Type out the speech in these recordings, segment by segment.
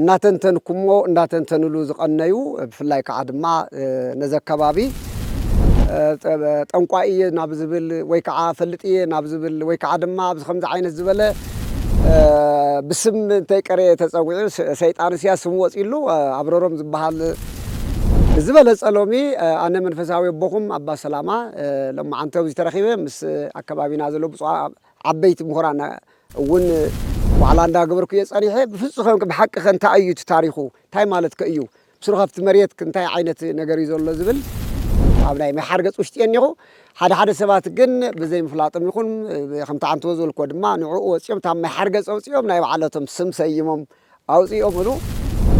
እናተንተንኩሞ እናተንተንሉ ዝቐነዩ ብፍላይ ከዓ ድማ ነዚ ኣከባቢ ጠንቋይ እየ ናብ ዝብል ወይ ከዓ ፈልጥ እየ ናብ ዝብል ወይ ከዓ ድማ ኣብዚ ከምዚ ዓይነት ዝበለ ብስም እንተይቀረየ ተፀዊዑ ሰይጣን እስያ ስም ወፂሉ ኣብረሮም ዝበሃል ዝበለፀ ሎሚ ኣነ መንፈሳዊ ኣቦኹም ኣባ ሰላማ ሎማዓንቲ ኣብዚ ተረኺበ ምስ ኣከባቢና ዘሎ ብፁዕ ዓበይቲ ምሁራን እውን ዋዕላ እንዳገበርኩ'የ ጸኒሐ፣ ብፍጹከ ብሓቂኸ እንታይ እዩ እቲ ታሪኹ፣ እንታይ ማለትከ እዩ፣ ብስሩኸ ኣብቲ መሬት እንታይ ዓይነት ነገር እዩ ዘሎ ዝብል ኣብ ናይ ምሕሓር ገጽ ውሽጢ'የ እኒኹ፣ ሓደ ሓደ ሰባት ግን ብዘይምፍላጦም ይኹን ከምቲ ዓንተቦ ዝበልክዎ ድማ ንዕኡ ወጺኦም እታ ምሕሓር ገጽ ኣውጺኦም ናይ ባዕለቶም ስም ሰይሞም፣ ኣውጺኦምሉ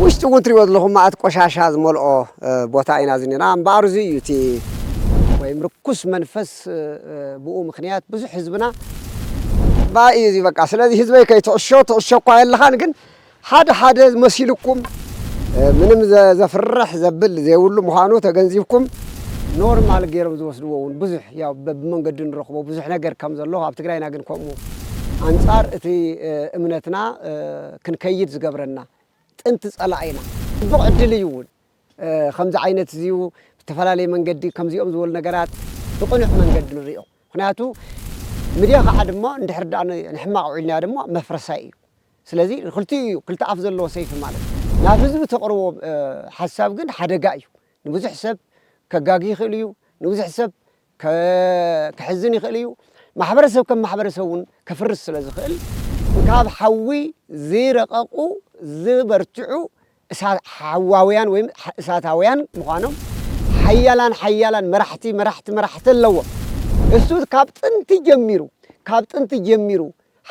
ውሽጢ ውን ትሪእዎ ዘለኹም መኣት ቆሻሻ ዝመልኦ ቦታ ኢና ዝኒና እምበኣር እዙይ እዩ እቲ ወይም ርኩስ መንፈስ ብኡ ምኽንያት ብዙሕ ህዝብና ባእ እዩ እዙይ በቃ ስለዚ ህዝበይ ከይትዕሾ ትዕሾ እኳ የለኻን ግን ሓደ ሓደ መሲሉኩም ምንም ዘፍርሕ ዘብል ዘይብሉ ምዃኑ ተገንዚብኩም ኖርማል ገይሮም ዝወስድዎ ውን ብዙሕ ያው በብመንገዱ ንረኽቦ ብዙሕ ነገር ከም ዘሎ ኣብ ትግራይና ግን ከምኡ ኣንጻር እቲ እምነትና ክንከይድ ዝገብረና ጥንቲ ጸላኢና ጽቡቕ ዕድል እዩ እውን ከምዚ ዓይነት እዚዩ ብዝተፈላለየ መንገዲ ከምዚኦም ዝበሉ ነገራት ብቕኑዕ መንገዲ ንሪኦ ምክንያቱ ምድያ ከዓ ድማ እንድሕር ድኣ ንሕማቕ ውዒልናዮ ድማ መፍረሳይ እዩ ስለዚ ክልቲኡ እዩ ክልተ ኣፍ ዘለዎ ሰይፊ ማለት ናብ ህዝቢ ተቕርቦ ሓሳብ ግን ሓደጋ እዩ ንብዙሕ ሰብ ከጋጊ ይኽእል እዩ ንብዙሕ ሰብ ከሕዝን ይኽእል እዩ ማሕበረሰብ ከም ማሕበረሰብ እውን ከፍርስ ስለ ዝኽእል ካብ ሓዊ ዝረቐቑ ዝበርትዑ ሓዋውያን ወይ እሳታውያን ምዃኖም ሓያላን ሓያላን መራሕቲ መራሕቲ መራሕቲ ኣለዎ እሱ ካብ ጥንቲ ጀሚሩ ካብ ጥንቲ ጀሚሩ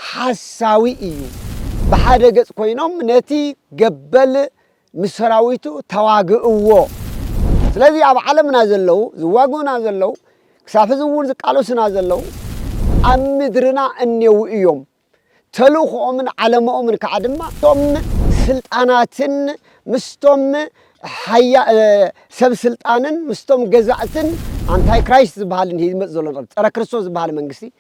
ሓሳዊ እዩ ብሓደ ገጽ ኮይኖም ነቲ ገበል ምስ ሰራዊቱ ተዋግእዎ። ስለዚ ኣብ ዓለምና ዘለዉ ዝዋግኡና ዘለዉ ክሳብ ሕዚ እውን ዝቃለሱና ዘለዉ ኣብ ምድርና እኔዉ እዮም። ተልእኾኦምን ዓለመኦምን ከዓ ድማ ምስቶም ስልጣናትን ምስቶም ሰብ ስልጣንን ምስቶም ገዛእትን ኣንታይ ክራይስት ዝበሃልን ሂዚ ዝመጽእ ዘሎ ጸረ ክርስቶስ ዝበሃለ መንግስቲ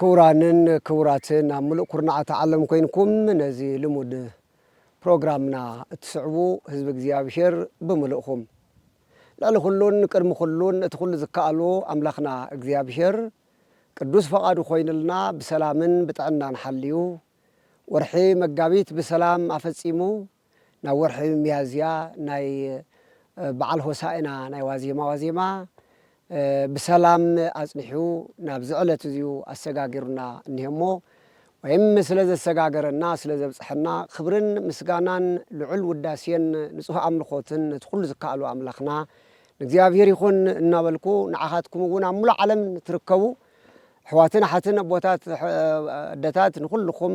ክቡራንን ክቡራትን ኣብ ምሉእ ኩርናዓት ዓለም ኮይንኩም ነዚ ልሙድ ፕሮግራምና እትስዕቡ ህዝቢ እግዚኣብሔር ብምልእኹም ልዕሊ ኩሉን ቅድሚ ኩሉን እቲ ኩሉ ዝከኣሎ ኣምላኽና እግዚኣብሔር ቅዱስ ፈቓዱ ኮይኑልና ብሰላምን ብጥዕናን ሓልዩ ወርሒ መጋቢት ብሰላም ኣፈጺሙ ናብ ወርሒ ሚያዝያ ናይ በዓል ሆሳእና ናይ ዋዜማ ዋዜማ ብሰላም ኣጽኒሑ ናብዚ ዕለት እዚዩ ኣሰጋጊሩና እኒሀ እሞ ወይም ስለ ዘሰጋገረና ስለ ዘብጽሐና ክብርን ምስጋናን ልዑል ውዳሴን ንጹህ ኣምልኾትን ነቲ ኩሉ ዝከኣሎ ኣምላኽና ንእግዚኣብሔር ይኹን እናበልኩ ንዓኻትኩም እውን ኣብ ሙሉእ ዓለም ንትርከቡ ኣሕዋትን ኣሓትን ኣቦታት ኣደታት ንኹልኹም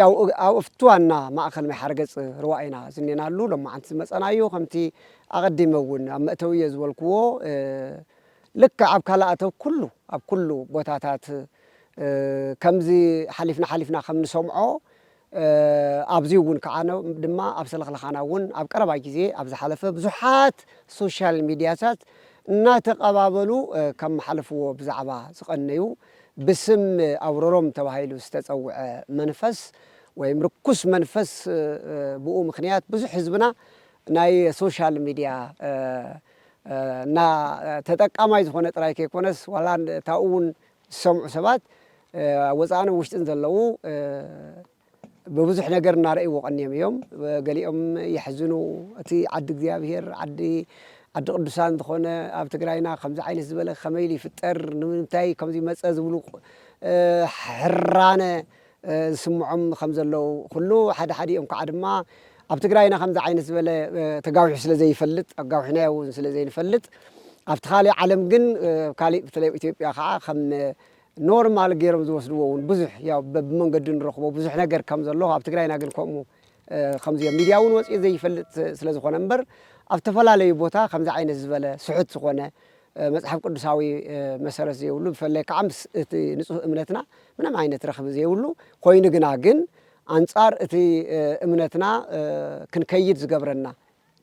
ያው ኣብ ኣፍቲ ዋና ማእከል ምሕሓር ገጽ ርዋ ኢና ዝኔናሉ ሎማዓንቲ ዝመጸናዩ ከምቲ ኣቀዲመ ውን ኣብ መእተዊየ ዝበልኩዎ ልክዕ ኣብ ካልእ ኣተው ኩሉ ኣብ ኩሉ ቦታታት ከምዚ ሓሊፍና ሓሊፍና ከም ንሰምዖ ኣብዚ ውን ክዓ ድማ ኣብ ሰለኽለኻና ውን ኣብ ቀረባ ግዜ ኣብ ዝሓለፈ ብዙሓት ሶሻል ሚድያታት እናተቀባበሉ ከመሓልፍዎ ብዛዕባ ዝቀነዩ ብስም ኣውሮሮም ተባሂሉ ዝተጸውዐ መንፈስ ወይም ርኩስ መንፈስ ብኡ ምክንያት ብዙሕ ህዝብና ናይ ሶሻል ሚድያ እና ተጠቃማይ ዝኾነ ጥራይ ከይኮነስ ዋላ እታኡ እውን ዝሰምዑ ሰባት ወፃእን ውሽጥን ዘለዉ ብብዙሕ ነገር እናረእይዎ ቀንዮም እዮም። ገሊኦም የሕዝኑ። እቲ ዓዲ እግዚኣብሄር ዓዲ ዓዲ ቅዱሳን ዝኾነ ኣብ ትግራይና ከምዚ ዓይነት ዝበለ ከመይ ኢሉ ይፍጠር ንምንታይ ከምዚ መፀ ዝብሉ ሕራነ ዝስምዖም ከም ዘለዉ ኩሉ ሓደ ሓዲኦም ከዓ ድማ ኣብ ትግራይና ከምዚ ዓይነት ዝበለ ተጋዊሑ ስለ ዘይፈልጥ ኣጋዊሕናዮ እውን ስለ ዘይንፈልጥ ኣብቲ ካሊእ ዓለም ግን ካሊእ ብተለይ ኣብ ኢትዮጵያ ከዓ ከም ኖርማል ገይሮም ዝወስድዎ ውን ብዙሕ ያው በብመንገዱ ንረኽቦ ብዙሕ ነገር ከም ዘሎ ኣብ ትግራይና ግን ከምኡ ከምዚ ኣብ ሚድያ ውን ወፂኡ ዘይፈልጥ ስለ ዝኾነ እምበር ኣብ ዝተፈላለዩ ቦታ ከምዚ ዓይነት ዝበለ ስሑት ዝኾነ መፅሓፍ ቅዱሳዊ መሰረት ዘይብሉ ብፈላይ ከዓ ምስ እቲ ንፁህ እምነትና ምንም ዓይነት ረኽቢ ዘይብሉ ኮይኑ ግና ግን ኣንፃር እቲ እምነትና ክንከይድ ዝገብረና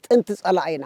ጥንቲ ፀላኢና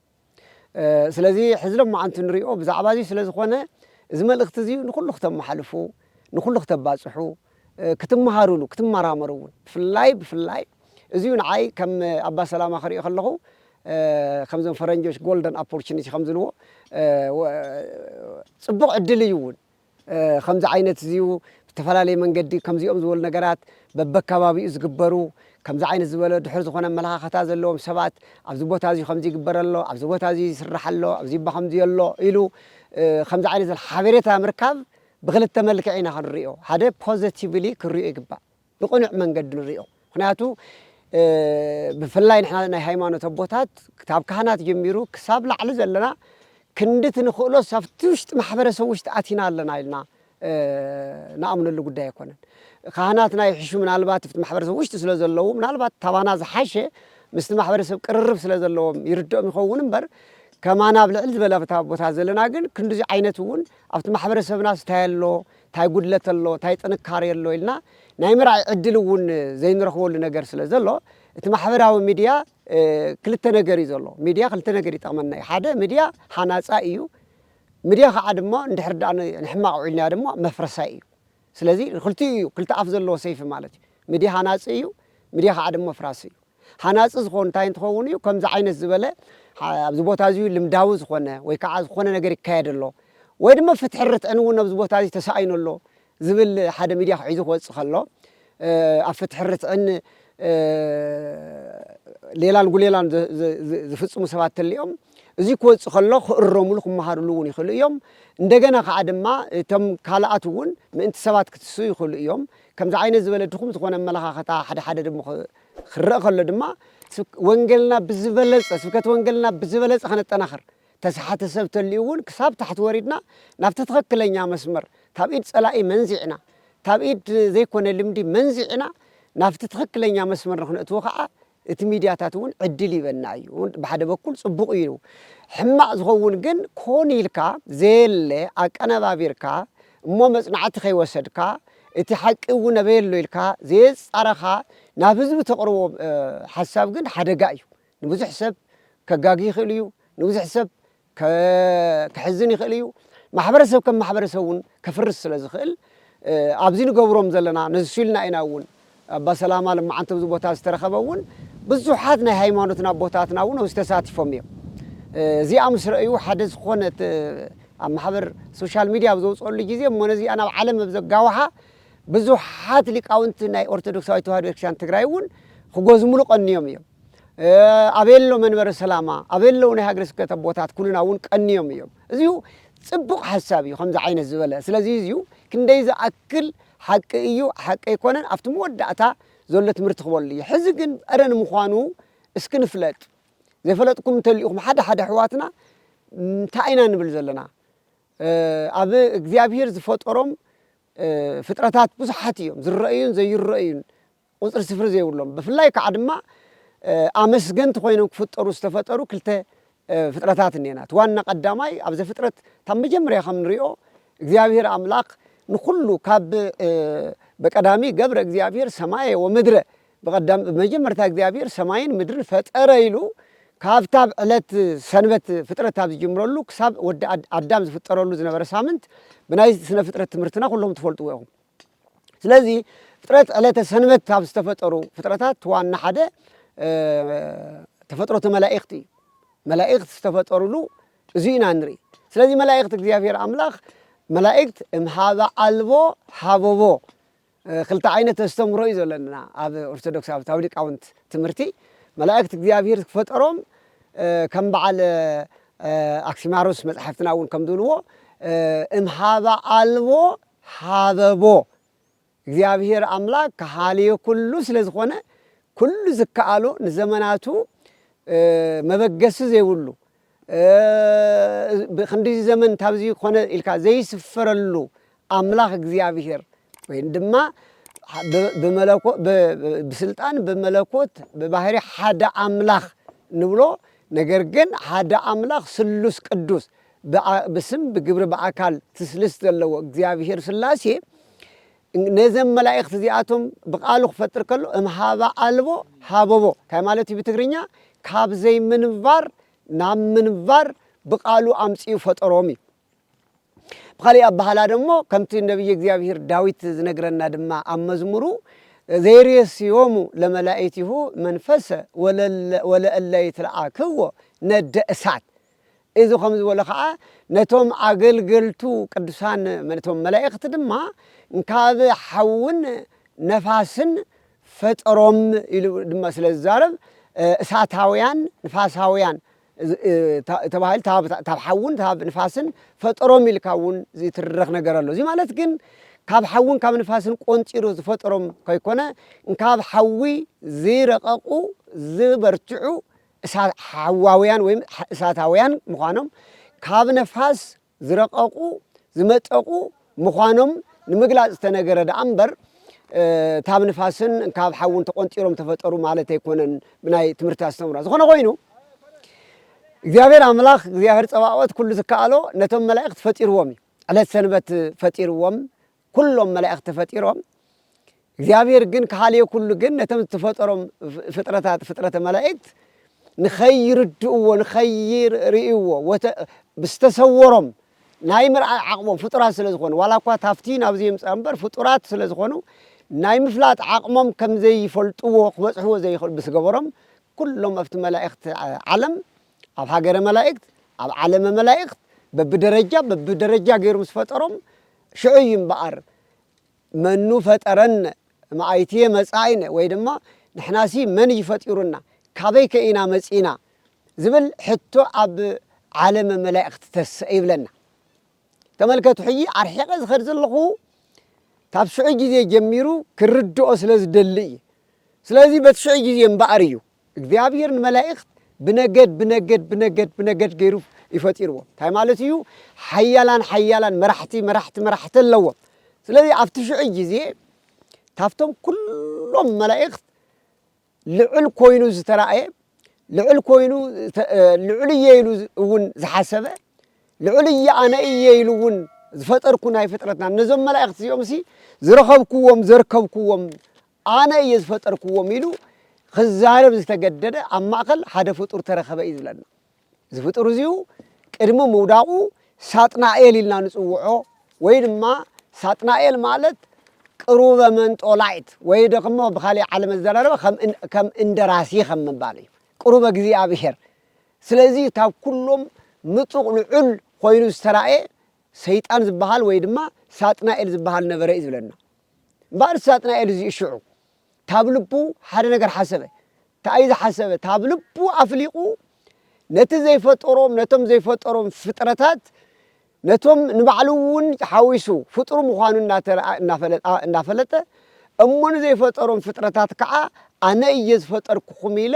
ስለዚ ሕዚ ሎማዓንቲ ንሪኦ ብዛዕባ እዚ ስለ ዝኾነ እዚ መልእኽቲ እዚ ንኹሉ ክተመሓልፉ ንኹሉ ክተባፅሑ ክትመሃሩሉ ክትመራመሩ እውን ብፍላይ ብፍላይ እዚዩ ንዓይ ከም ኣባ ሰላማ ክሪኦ ከለኹ ከምዞም ፈረንጆች ጎልደን ኣፖርቹኒቲ ከምዝብልዎ ፅቡቕ ዕድል እዩ እውን ከምዚ ዓይነት እዚ ብተፈላለየ መንገዲ ከምዚኦም ዝበሉ ነገራት በበከባቢኡ ዝግበሩ ከምዚ ዓይነት ዝበለ ድሑር ዝኾነ ኣመለኻኸታ ዘለዎም ሰባት ኣብዚ ቦታ እዚ ከምዚ ይግበር ኣሎ ኣብዚ ቦታ እዚ ይስራሕ ኣሎ ኣብዚ እባ ከምዚ ኣሎ ኢሉ ከምዚ ዓይነት ሓበሬታ ምርካብ ብክልተ መልክዕ ኢና ክንሪኦ ሓደ ፖዘቲቭሊ ክንሪኦ ይግባእ ብቕኑዕ መንገዲ ንሪኦ ምኽንያቱ ብፍላይ ንሕና ናይ ሃይማኖት ኣቦታት ካብ ካህናት ጀሚሩ ክሳብ ላዕሊ ዘለና ክንዲ እቲ ንኽእሎስ ኣብቲ ውሽጢ ማሕበረሰብ ውሽጢ ኣቲና ኣለና ኢልና ንኣምነሉ ጉዳይ ኣይኮነን። ካህናትና ይሕሹ ምናልባት ኣብቲ ማሕበረሰብ ውሽጢ ስለ ዘለዉ ምናልባት ካባና ዝሓሸ ምስቲ ማሕበረሰብ ቅርርብ ስለ ዘለዎም ይርድኦም ይኸውን እምበር ከማና ኣብ ልዕል ዝበለ ቦታ ዘለና ግን ክንድዚ ዓይነት እውን ኣብቲ ማሕበረሰብናስ እንታይ ኣሎ ታይ ጉድለት ኣሎ ታይ ጥንካሬ ኣሎ ኢልና ናይ ምርኣይ ዕድል እውን ዘይንረኽበሉ ነገር ስለ ዘሎ እቲ ማሕበራዊ ሚድያ ክልተ ነገር እዩ ዘሎ ሚድያ ክልተ ነገር ይጠቕመና እዩ ሓደ ሚድያ ሃናፃይ እዩ ሚድያ ከዓ ድማ እንድሕር ዳኣ ንሕማቕ ውዒልናዮ ድማ መፍረሳይ እዩ ስለዚ ክልቲኡ እዩ ክልተ ኣፍ ዘለዎ ሰይፊ ማለት እዩ ሚድያ ሃናፂ እዩ ሚድያ ከዓ ድማ ኣፍራሲ እዩ ሃናጺ ዝኾን እንታይ እንትኸውን እዩ ከምዚ ዓይነት ዝበለ ኣብዚ ቦታ እዚ ልምዳዊ ዝኾነ ወይ ከዓ ዝኾነ ነገር ይካየድ ኣሎ ወይ ድማ ፍትሒ ርትዕን እውን ኣብዚ ቦታ እዚ ተሳኢኑ ኣሎ ዝብል ሓደ ሚድያ ክሒዙ ክወፅእ ከሎ ኣብ ፍትሒ ርትዕን ሌላን ጉሌላን ዝፍፅሙ ሰባት ተሊኦም እዚ ክወፅእ ከሎ ክእረሙሉ ክመሃርሉ እውን ይኽእሉ እዮም እንደገና ከዓ ድማ እቶም ካልኣት እውን ምእንቲ ሰባት ክትስኡ ይኽእሉ እዮም ከምዚ ዓይነት ዝበለ ድኹም ዝኾነ ኣመለኻኽታ ሓደ ሓደ ድም ክረእ ከሎ ድማ ስብ ወንገልና ብዝበለጸ ስብከት ወንገልና ብዝበለጸ ከነጠናኽር ተሰሓቲ ሰብ ተልዩ እውን ክሳብ ታሕቲ ወሪድና ናብቲ ትኸክለኛ መስመር ካብ ኢድ ጸላኢ መንዚዕና ካብ ኢድ ዘይኮነ ልምዲ መንዚዕና ናብቲ ትኸክለኛ መስመር ንክነእትዎ ከኣ እቲ ሚድያታት እውን ዕድል ይበና እዩ ብሓደ በኩል ፅቡቅ እዩ ሕማቅ ዝኸውን ግን ኮን ኢልካ ዘየለ ኣቀነባቢርካ እሞ መፅናዕቲ ከይወሰድካ እቲ ሓቂ እውን ኣበይ ኣሎ ኢልካ ዘየፃረኻ ናብ ህዝቢ ተቅርቦ ሓሳብ ግን ሓደጋ እዩ ንብዙሕ ሰብ ከጋጊ ይኽእል እዩ ንብዙሕ ሰብ ከሕዝን ይኽእል እዩ። ማሕበረሰብ ከም ማሕበረሰብ እውን ከፍርስ ስለ ዝኽእል ኣብዚ ንገብሮም ዘለና ነሱ ኢልና ኢና እውን ኣባ ሰላማ ልማዓንቲ ኣብዚ ቦታ ዝተረኸበ እውን ብዙሓት ናይ ሃይማኖትና ኣቦታትና እውን ኣብዚ ተሳቲፎም እዮም። እዚኣ ምስ ረእዩ ሓደ ዝኾነ ኣብ ማሕበር ሶሻል ሚድያ ኣብ ዘውፅኦሉ ግዜ እሞ ነዚኣ ናብ ዓለም ኣብ ዘጋውሓ ብዙሓት ሊቃውንቲ ናይ ኦርቶዶክሳዊ ተዋህዶ ቤተክርስትያን ትግራይ እውን ክጎዝሙሉ ቀንዮም እዮም። ኣበይ ኣሎ መንበረ ሰላማ ኣበይ ኣለዉ ናይ ሃገረ ስብከት ኣቦታት ኩልና እውን ቀንዮም እዮም እዚሁ ፅቡቕ ሓሳብ እዩ ከምዚ ዓይነት ዝበለ ስለዚ እዚዩ ክንደይ ዝኣክል ሓቂ እዩ ሓቂ ኣይኮነን ኣብቲ መወዳእታ ዘሎ ትምህርቲ ክበሉ እዩ ሕዚ ግን እረ ንምዃኑ እስኪ ንፍለጥ ዘይፈለጥኩም እንተልኢኹም ሓደ ሓደ ኣሕዋትና እንታይ ኢና ንብል ዘለና ኣብ እግዚኣብሄር ዝፈጠሮም ፍጥረታት ብዙሓት እዮም ዝረአዩን ዘይረአዩን ቁጽሪ ስፍሪ ዘይብሎም ብፍላይ ክኣ ድማ ኣመስገንቲ ኮይኖም ክፍጠሩ ዝተፈጠሩ ክልተ ፍጥረታት እኔና እቲ ዋና ቀዳማይ ኣብ ዘፍጥረት ታብ መጀመርያ ከም ንሪኦ እግዚኣብሄር ኣምላክ ንኩሉ ካብ በቀዳሚ ገብረ እግዚኣብሄር ሰማየ ወምድረ ብቀዳም ብመጀመርታ እግዚኣብሄር ሰማይን ምድርን ፈጠረ ኢሉ ካብታ ብ ዕለት ሰንበት ፍጥረት ካብ ዝጅምረሉ ክሳብ ወዲ ኣዳም ዝፍጠረሉ ዝነበረ ሳምንት ብናይ ስነ ፍጥረት ትምህርትና ኩሎም ትፈልጥዎ ኢኩም ስለዚ ፍጥረት ዕለተ ሰንበት ካብ ዝተፈጠሩ ፍጥረታት ዋና ሓደ ተፈጥሮተ መላእክት እዩ። መላእክት ዝተፈጠሩሉ እዚ ኢና ንርኢ። ስለዚ መላእክት እግዚኣብሔር ኣምላኽ መላእክት እምሃበ ኣልቦ ሃበቦ ክልተ ዓይነት ኣስተምህሮ እዩ ዘለና ኣብ ኦርቶዶክስ ኣብ ታዊ ሊቃውንት ትምህርቲ መላእክት እግዚኣብሔር ክፈጠሮም ከም በዓል ኣክሲማሮስ መፅሓፍትና እውን ከም ዝብልዎ እምሃበ ኣልቦ ሃበቦ እግዚኣብሄር ኣምላክ ከሃልዮ ኩሉ ስለ ዝኮነ ኩሉ ዝከኣሎ ንዘመናቱ መበገሲ ዘይብሉ ክንድዚ ዘመን ካብዚ ኮነ ኢልካ ዘይስፈረሉ ኣምላክ እግዚኣብሄር ወይን ድማ ብመለኮ ብስልጣን ብመለኮት ብባህሪ ሓደ ኣምላክ ንብሎ ነገር ግን ሓደ ኣምላክ ስሉስ ቅዱስ ብኣ ብስም ብግብሪ ብኣካል ትስልስ ዘለዎ እግዚኣብሄር ስላሴ ነዘም መላእክት እዚኣቶም ብቃሉ ክፈጥር ከሎ እም ሃባ ኣልቦ ሃበቦ ታይ ማለት እዩ ብትግርኛ ካብ ዘይምንባር ናብ ምንባር ብቃሉ ኣምጽኡ ፈጠሮም እዩ ብካሊእ ኣባህላ ደሞ ከምቲ ነብይ እግዚኣብሄር ዳዊት ዝነግረና ድማ ኣብ መዝሙሩ ዘይሬስዮሙ ለመላእቲሁ መንፈሰ ወለእለ ይትለኣክዎ ነደ እሳት እዚ ኸም ዝበሎ ኸኣ ነቶም ኣገልገልቱ ቅዱሳን ነቶም መላእኽቲ ድማ ካብ ሓውን ነፋስን ፈጠሮም ኢሉ ድማ ስለ ዝዛረብ እሳታውያን ንፋሳውያን ተባሂሉ ካብ ሓውን ካብ ንፋስን ፈጠሮም ኢልካ እውን ዝይትረኽ ነገር ኣሎ እዚ ማለት ግን ካብ ሓውን ካብ ንፋስን ቆንጢሩ ዝፈጠሮም ከይኮነ ካብ ሓዊ ዝይረቐቑ ዝበርትዑ እሳትሓዋውያን ወይ እሳታውያን ምዃኖም ካብ ነፋስ ዝረቐቑ፣ ዝመጠቑ፣ ምዃኖም ንምግላጽ ዝተነገረ ደኣ እምበር ካብ ንፋስን ካብ ሓውን ተቖንጢሮም ተፈጠሩ ማለት ኣይኮነን ብናይ ትምህርቲ ኣስተምህሮ። ዝኾነ ኮይኑ እግዚኣብሔር ኣምላኽ እግዚኣብሔር ጸባኦት ኩሉ ዝከኣሎ ነቶም መላእኽት ፈጢርዎም እዩ። ዕለት ሰንበት ፈጢርዎም ኩሎም መላእክት ተፈጢሮም እግዚኣብሔር ግን ከሃልየ ኩሉ ግን ነቶም ዝተፈጠሮም ፍጥረታት ፍጥረተ መላእክት ንኸይርድእዎ ንኸይርእይዎ ዝተሰወሮም ናይ ምርኣይ ዓቕሞም ፍጡራት ስለ ዝኾኑ ዋላ እኳ ታፍቲ ናብዚ የምፅኣ እምበር ፍጡራት ስለ ዝኾኑ ናይ ምፍላጥ ዓቕሞም ከም ዘይፈልጥዎ ክበፅሕዎ ዘይኽእሉ ብስገበሮም ኩሎም ኣብቲ መላእኽቲ ዓለም ኣብ ሃገረ መላእክት ኣብ ዓለመ መላእኽት በብደረጃ በብደረጃ ገይሩ ምስ ፈጠሮም ሽዑ እዩ እምበኣር መኑ ፈጠረነ እምኣይትየ መጻኢነ ወይ ድማ ንሕናሲ መን እዩ ፈጢሩና ካበይከ ኢና መጺእና ዝብል ሕቶ ኣብ ዓለመ መላእክት ተሰእ ይብለና። ተመልከቱ ሕጂ ኣርሒቐ ዝኸድ ዘለኹ ካብ ሽዑ ግዜ ጀሚሩ ክርድኦ ስለ ዝደሊ እየ። ስለዚ በቲ ሽዑ ግዜ እምበኣር እዩ እግዚኣብሔር ንመላኢክት ብነገድ ብነገድ ብነገድ ብነገድ ገይሩ እዩ ፈጢርዎም እንታይ ማለት እዩ ሓያላን ሓያላን መራሕቲ መራሕቲ መራሕቲ ኣለዎም ስለዚ ኣብቲ ሽዑ ግዜ ካብቶም ኩሎም መላእክት ልዑል ኮይኑ ዝተራእየ ልዑል ኮይኑ ልዑል እየ ኢሉ እውን ዝሓሰበ ልዑል እየ ኣነ እየ ኢሉ እውን ዝፈጠርኩ ናይ ፍጥረትና ነዞም መላእክት እዚኦም ሲ ዝረኸብኩዎም ዘርከብኩዎም ኣነ እየ ዝፈጠርክዎም ኢሉ ኽዛረብ ዝተገደደ ኣብ ማእኸል ሓደ ፍጡር ተረኸበ እዩ ዝብለና። እዚ ፍጡር እዚኡ ቅድሚ ምውዳቑ ሳጥናኤል ኢልና ንፅውዖ ወይ ድማ ሳጥናኤል ማለት ቅሩበ መንጦላይት ወይ ደግሞ ብካሊእ ዓለም ኣዘራርባ ከም እንደራሲ ከም ምባል እዩ ቅሩበ እግዚኣብሔር ስለዚ ካብ ኩሎም ምጡቕ ልዑል ኮይኑ ዝተራእየ ሰይጣን ዝበሃል ወይ ድማ ሳጥናኤል ዝበሃል ነበረ እዩ ዝብለና። እምበኣር ሳጥናኤል እዚኡ ሽዑ ታብ ልቡ ሓደ ነገር ሓሰበ። ታኣዩ ዝሓሰበ? ታብ ልቡ ኣፍሊቑ ነቲ ዘይፈጠሮም ነቶም ዘይፈጠሮም ፍጥረታት ነቶም ንባዕሉ እውን ሓዊሱ ፍጡር ምዃኑ እናፈለጠ እሞ ንዘይፈጠሮም ፍጥረታት ከዓ ኣነ እየ ዝፈጠርኩኹም ኢለ